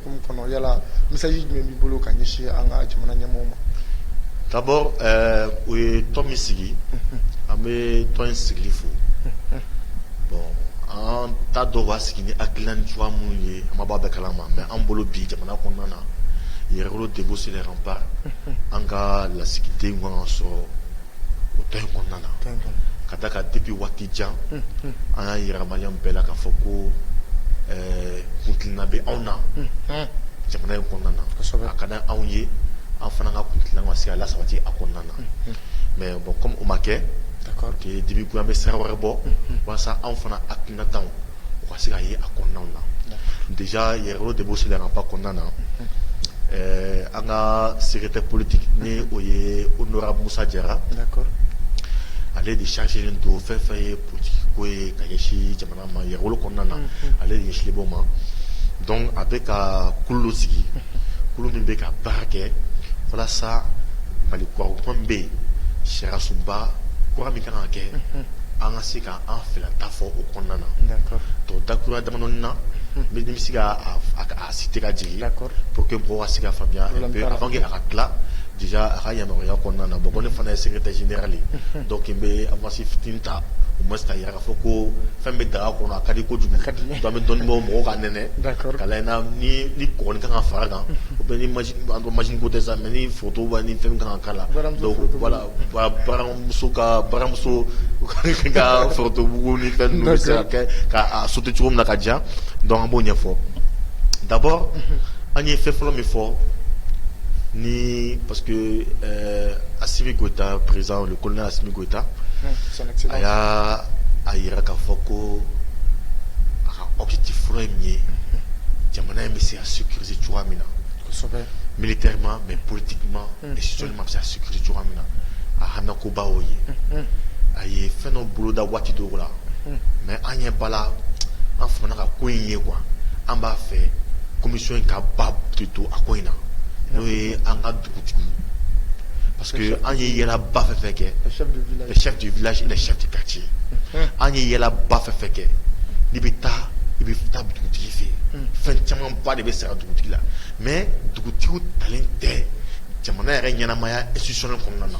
Hukumu kɔnɔ yala message jumɛn b'i bolo ka ɲɛsin an ka jamana ɲɛmɔgɔ ma d'abord u ye tɔn min sigi an bɛ tɔn in sigili fo bon an t'a dɔn u y'a sigi ni hakilina ni cogoya minnu ye an ma bɔ a bɛɛ kalama mais an bolo bi jamana kɔnɔna na Yɛrɛwolo debout sur les remparts an ka lasigiden tun ka kan ka sɔrɔ o tɔn in kɔnɔna na ka d'a kan depuis waati jan an y'a yira maliyɛn bɛɛ la k'a fɔ ko eh, kuntilenna bɛ anw na jamana in kɔnɔna na a ka di anw ye an fana ka kuntilenna ka se ka lasabati a kɔnɔna na mais bon comme o ma kɛ dibi ko an bɛ sira wɛrɛ bɔ walasa anw fana hakilinataw u ka se ka ye a kɔnɔna na déjà Yɛrɛwolo debout sur les remparts kɔnɔna na ɛɛ an ka secrétaire politique ni o ye honorable Musa Jara ale de chargélen don fɛn fɛn ye politique ko ye ka ɲɛsin jamana ma Yɛrɛwolo kɔnɔna na ale de ɲɛsinlen b'o ma donc a bɛ ka kulu dɔ sigi kulu min bɛ ka baara kɛ walasa Mali kura ko kuma min bɛ yen sariyasunba kura min ka kan ka kɛ an ka se ka An fila ta fɔ o kɔnɔna na to dakura da na bɛ se a si tɛ ka jigin la po que bɔ se ka faya a ka tila a ka yamaruya kɔnɔna na bɔ ne fana ye sɛgɛ tɛsi ale dɔw tun bɛ a masi fit ta u ma jira k'a fɔ ko fɛn bɛ daga kɔnɔ a ka di ko kojugu ka di an bɛ dɔnnibaw mɔgɔw ka nɛnɛ ka ni kɔn ka fara kan u bɛ ma ko tɛ sa mɛ ni forotoba ni fɛn kan ka la baramuso ka baramuso ka forotomugu ni fɛn bɛ se ka ajouter cogo min na ka diya donc an b'o ɲɛfɔ d'abord an ye fɛn fɔlɔ min fɔ ni parce que Assimi Goïta président le colonel Assimi Goïta a y'a a jira k'a fɔ ko a ka objectif fɔlɔ in ye jamana in bɛ se ka sécuriser cogoya min na militairement mais politiquement mm. et socialement bɛ se ka sécuriser cogoya min na a haminankoba y'o ye mm-hmm. a ye fɛn dɔ boloda waati dɔw la mm-hmm. mais an ɲɛ b'a la an fana ka ko in ye quoi an b'a fɛ komisiyɔn in ka ba de to a ko in na mm-hmm. n'o ye an ka dugutigi parce que an ye yaalaba fɛn fɛn kɛ le chef du village et le chef du quartier an ye yaalaba fɛn fɛn kɛ n'i bɛ taa i bɛ taa dugutigi fɛ yen fɛn camanba de bɛ sara dugutigi la mais dugutigi talen tɛ jamana yɛrɛ ɲɛnamaya institutionnel kɔnɔna na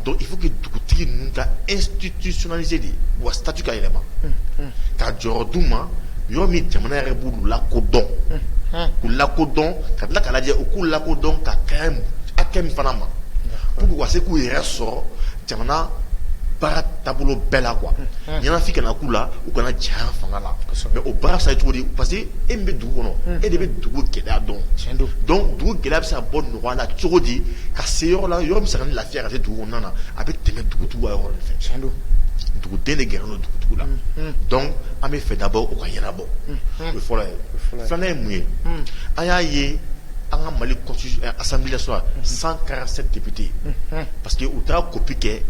donc il faut que dugutigi ninnu ka institutionnaliser de u ka statut ka yɛlɛma ka jɔyɔrɔ d'u ma yɔrɔ min jamana yɛrɛ b'u lakodɔn k'u lakodɔn ka tila k'a lajɛ u k'u lakodɔn ka kan hakɛ min fana ma pour que u ka se k'u yɛrɛ sɔrɔ jamana baara taabolo bɛɛ la quoi ɲɛnafin kana k'u la u kana janya fanga la mais o baara sa cogo di parce que e min bɛ dugu kɔnɔ e de bɛ dugu gɛlɛya dɔn donc dugu gɛlɛya bɛ se ka bɔ nɔgɔya la cogo di ka se yɔrɔ la yɔrɔ min bɛ se ka ni lafiya ka se dugu kɔnɔna na a bɛ tɛmɛ dugutigiw ka yɔrɔ de fɛ donc dugu den de gɛrɛlen don dugu la donc an b'a fɛ d'abord o ka ɲɛnabɔ o fɔlɔ ye filanan ye mun ye an y'a ye an ka mali assemblée cent quarante-sept députés parce que u taara copie kɛ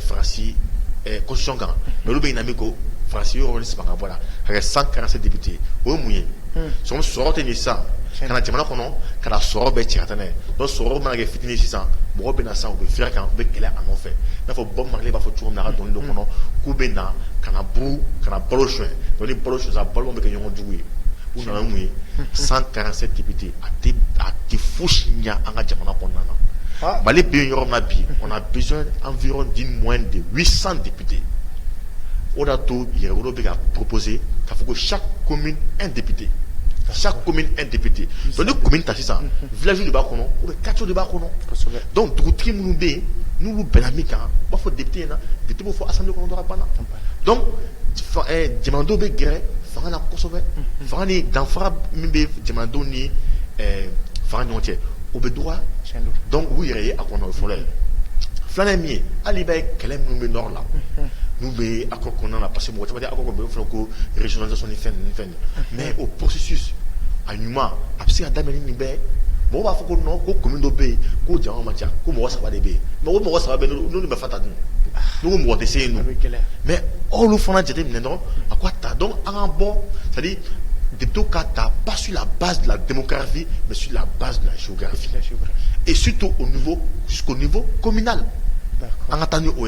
Faransi constitution kan olu bɛ ɲina ko Faransi yɔrɔ saba bɔ a la cent quarante-sept députés o ye mun ye son sɔrɔ tɛ sisan ka na jamana kɔnɔ ka sɔrɔ bɛɛ cɛ donc sɔrɔ mana kɛ fitinin sisan mɔgɔw bɛ sisan u bɛ firi a kan u bɛ kɛlɛ a nɔfɛ n'a fɔ Bob Marley b'a fɔ cogo min na dɔnkili dɔ kɔnɔ k'u bɛ na ka na buru ka na balo sonya balo sonya balo bɛ kɛ ɲɔgɔn jugu ye U nana mun ye san taara se dibite a a tɛ fo si ɲɛ an ka jamana kɔnɔna na mali bɛ yɔrɔ na bi o bi an fi di mɔn de wi san dibite o da to yɛrɛolo bɛ ka pose ka fɔ ko sa ko min e dibite ka sa ko min e dibite ni ko min ta sisan viyasi de b'a kɔnɔ o bɛ kato de b'a kɔnɔ dɔnku dugutigi minnu bɛ yen n'u bɛnna min kan u b'a fɔ dibite in na bitigiw fɔ a san kɔnɔ banna jamanadenw bɛ gɛrɛ fanga na kosɛbɛ fanga ni danfara min bɛ jamanadenw ni fanga ɲɔgɔn cɛ o bɛ dɔgɔya donc u yɛrɛ ye a kɔnɔ o fɔlɔ ye filanan min ye hali i b'a ye kɛlɛ minnu bɛ nord la n'u bɛ accord kɔnɔna na parce que mɔgɔ caman accord kɔnɔ bɛ fɔ ko régionalisation ni fɛn fɛn mais o processus a ɲuman a bɛ se ka daminɛ nin bɛɛ mɔgɔ b'a fɔ ko non ko commune dɔ bɛ yen ko jama man ca ko mɔgɔ saba de bɛ yen mais o mɔgɔ saba bɛɛ n'olu bɛ fata dun n'u ko mɔgɔ tɛ se yen non mais olu fana jate minɛ dɔrɔn a ko a ta donc an ka bɔ c'est à dire députés ka ta pas sur la base de la démographie mais sur la base de la géographie et surtout au niveau jusqu'au niveau communal an ka taa ni o ye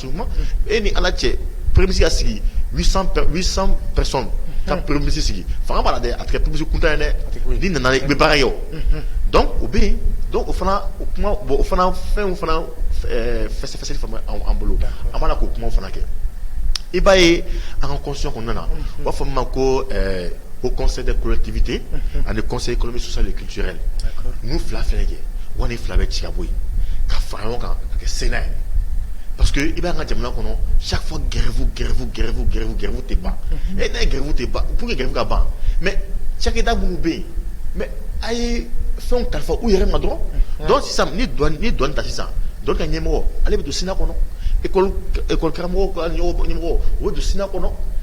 e ni ala cɛ pmisi ka sigi ka pmisi sigi fanga b'a dɛ a tɛ pmisi kun ye dɛ ni nana i bɛ baara ye o dɔn o bɛ yen o fana o kuma bɔ o fana fɛn fana fɛsɛsɛ an bolo a mana k'o kuma fana kɛ i b'a ye an ka kɔsɔn kɔnɔna na u b'a fɔ ma ko haut conseil des collectivités ani conseil économique social et culturel ninnu fila fɛn kɛ wa ni fila bɛ ci ka bɔ yen ka fara ɲɔgɔn kan ka kɛ sénat ye parce que i b'a ye an ka jamana kɔnɔ chaque fois gɛrɛfu gɛrɛfu gɛrɛfu gɛrɛfu gɛrɛfu tɛ ban et ni gɛrɛfu tɛ ban pour que gɛrɛfu ka ban mais cakɛda minnu bɛ yen mais a ye fɛn kalifa u yɛrɛ ma dɔrɔn donc sisan n'i douane ta sisan douane ka ɲɛmɔgɔ ale bɛ don sénat kɔnɔ e école karamɔgɔ ka ɲɛmɔgɔ o bɛ don sénat kɔnɔ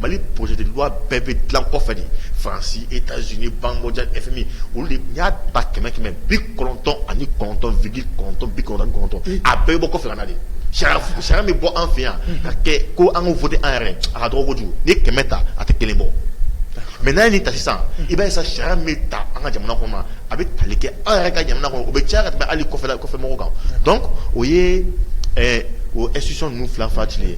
Mali projet de loi bɛɛ bɛ dilan kɔfɛ faransi États-Unis Banque mondiale FMI olu de y'a ta kɛmɛ kɛmɛ bi kɔnɔntɔn ani kɔnɔntɔn virgule kɔnɔntɔn bi kɔnɔntɔn kɔnɔntɔn a bɛɛ bɛ bɔ kɔfɛ de sariya min bɛ bɔ an fɛ yan ka kɛ ko an ka voter an yɛrɛ a ka dɔgɔ n'i ye kɛmɛ ta a tɛ kelen bɔ mais n'a ye nin ta sisan i b'a ye sisan sariya min bɛ ta an ka jamana kɔnɔ a bɛ tali kɛ an yɛrɛ ka jamana kɔnɔ o bɛ caya ka tɛmɛ hali kɔfɛ kɔfɛmɔgɔw kan o ye o institution ninnu fila fati ye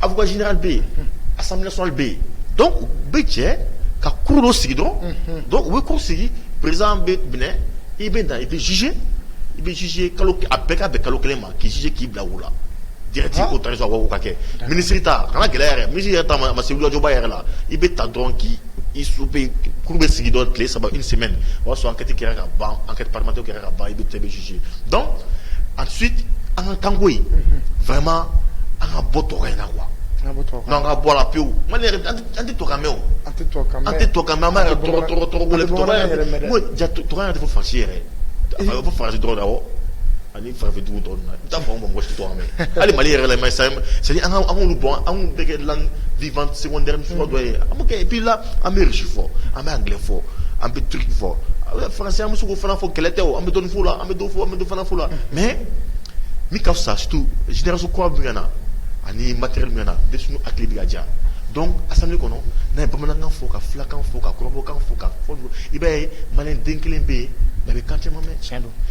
Avocat général bɛ yen, unhun, assemblée nationale bɛ yen donc u bɛ jɛ ka cour dɔ sigi dɔrɔn, unhun, donc u bɛ cour sigi président bɛ minɛ i bɛ na i bɛ juger i bɛ juger kalo a bɛɛ ka bɛn kalo kelen ma k'i juger k'i bila o la direct o tarisa o ka kɛ minisiri ta kana gɛlɛya yɛrɛ minisiri yɛrɛ ta a ma se wulikajɔba yɛrɛ la i bɛ ta dɔrɔn k'i i su bɛ cour bɛ sigi dɔrɔn tile saba une semaine o y'a sɔrɔ enquête kɛra ka ban enquête parlementaire kɛra ka ban i bɛ taa i bɛ juger donc ensuite an ka kanko in vraiment an ka bɔ tubabukan in na quoi an ka bɔ a la pewu Mali yɛrɛ an tɛ tubabukan mɛn o an tɛ tubabukan mɛn an tɛ tubabukan mɛn an b'a yɛrɛ tɔgɔ tɔgɔ tɔgɔ wele tɔgɔ yɛrɛ tubabukan yɛrɛ tɛ fɔ Faransi yɛrɛ a bɛ fɔ Faransi dɔrɔn de la awɔ Ni farafin dugu tɔw donna, i bɛ taa a sɔrɔ anw mɔgɔ si t'a mɛn, hali Mali yɛrɛ la, c'est à dire an ka an k'olu bɔ, a bɛ kɛ langue vivante secondaire suguya dɔ ye, an b'o kɛ et puis là an bɛ russe fɔ, an bɛ anglais fɔ, an bɛ turc fɔ, français an bɛ se k'o fana fɔ kɛlɛ tɛ o, an bɛ dɔɔnin fɔ o la, an bɛ dɔ fɔ, an bɛ dɔ fana fɔ o la mais min ka fisa surtout génération kura min bɛ ka na ani matériel min bɛ ka na denmisɛnw hakili bɛ ka ja donc assemblée kɔnɔ n'a ye bamanankan fɔ, ka fulakan fɔ, ka kɔrɔbɔrɔkan fɔ, ka fɔ i b'a ye maliyɛn den kelen bɛ yen mais a bɛ kan caman mɛn, tiɲɛ don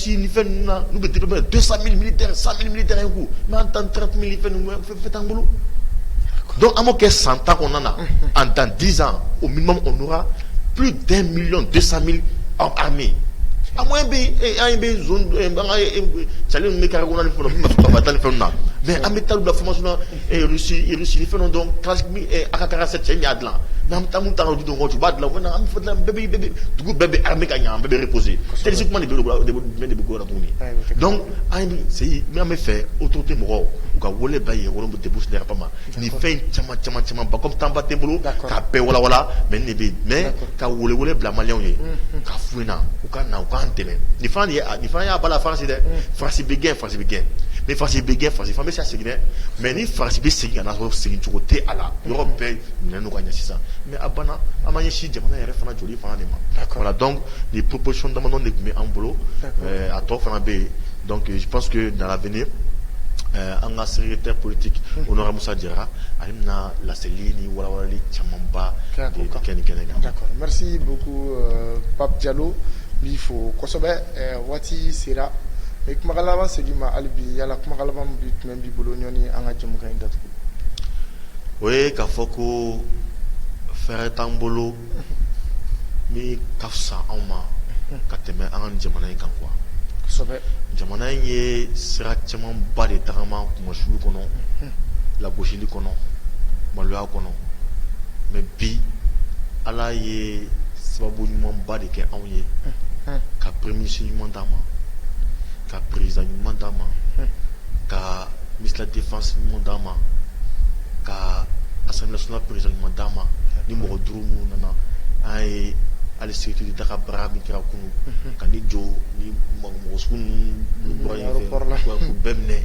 ci ni fɛn ninnu na n'u bɛ de deux cent mille militaires cent mille militaires un coup mais an ta trente mille fɛn ninnu fɛn t'an bolo donc an b'o kɛ san tan kɔnɔna na en dans dix ans au minimum on aura plus d'un million deux cent mille hommes armés a moyen bɛ yen eh, an bɛ zone eh, an ka cali eh, ninnu bɛ carré kɔnɔ ni fɛn na min ma sɔn ka taa ni fɛn na mais an bɛ taa u bila formation na e ni fɛn donc AK quarante-sept cɛ y'a dila n'an taa ta du dɔn tu b'a dila ko an dugu bɛɛ bɛ armer ka ɲɛ bɛɛ bɛ reposer terroriste kuma de bɛ bolo de bɛ gora tuguni donc an sigi n b'a fɛ autorité mɔgɔw u ka wele da ye wolo tɛ busɛn ma ni fɛn caman caman caman ba temps ba t'an bolo k'a bɛɛ walawala mais ne bɛ mais ka wele bila maliens ka fna u ka na u k'an dɛmɛ nin y'a balala Faransi dɛ Faransi bɛ gɛn Faransi bɛ gɛn ni Faransi bɛ gɛn Faransi fana bɛ se ka segin dɛ mais ni Faransi bɛ segin ka na sɔrɔ sigicogo tɛ a la yɔrɔ bɛɛ minɛnen ka ɲɛ sisan mais a banna an ma ye si jamana yɛrɛ fana joli fana de ma voilà donc nin proposition dama de tun bɛ an bolo a tɔ fana bɛ yen donc je pense que dans l'avenir an ka secrétaire politique honorable Musa Jara a bɛna laselili ni walawalali camanba kɛ nin kɛnɛ kan Pap Jalo b'i fo kosɛbɛ Waati sera n bɛ kumakan laban segin i ma hali bi yala kumakan laban bɛ tun b'i bolo yanni an ka jɛmukan in datugu o ye ka fɔ ko fɛn wɛrɛ t'an bolo min ka fisa anw ma ka tɛmɛ an ka jamana in kan quoi jamana in ye sira caman ba de tagama kunmasuuli kɔnɔ lagosili kɔnɔ maloya kɔnɔ mais bi Ala ye sababu ɲumanba de kɛ anw ye ka peremisi ɲuman d'a ma ka perez ɲuman d'a ma ka misila defa ɲuman d'a ma ka asla perez ɲuman d'a ma ni mɔgɔ duuru minnu nana an ye ali seti daga bara min kira kun ka ni jo ni man mɔgɔsugu ninnu bɛɛ minɛ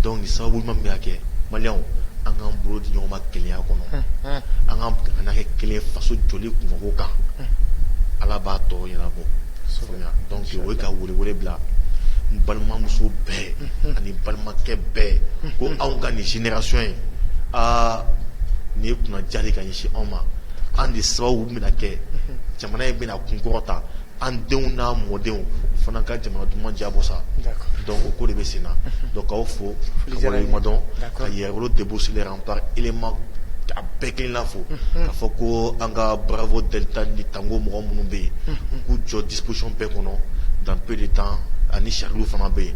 donc ni sababu ɲuman min bɛ ka kɛ maliyɛnw an k'an bolo di ɲɔgɔn ma kelenya kɔnɔ an k'an jamana kɛ kelen faso jɔli kunko kan ala b'a tɔ ɲɛnabɔ donc o ye ka welewele bila n balimamuso bɛɛ ani balimakɛ bɛɛ ko anw ka nin génération in aa nin ye kunnandiya de ye ka ɲɛsin anw ma an de sababu bɛna kɛ jamana in bɛna kunkɔrɔta an denw n'an mɔdenw u fana ka jamana duman diyabɔ sa donc o ko de bɛ senna donc k'aw fo commandant ka yɛrɛwolo debout sur les remparts éléments a bɛɛ kelenna fo k'a fɔ ko an ka bravo delta ni tango mɔgɔ minnu bɛ yen k'u jɔ disposition bɛɛ kɔnɔ dans peu de temps ani charlie fana bɛ yen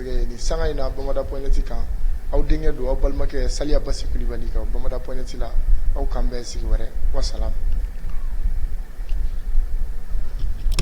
Ni sanga in na bamada pointi kan aw denkɛ don aw balimakɛ saliya basi kulubali kan bamada pointi la aw k'an bɛn sigi wɛrɛ wassalam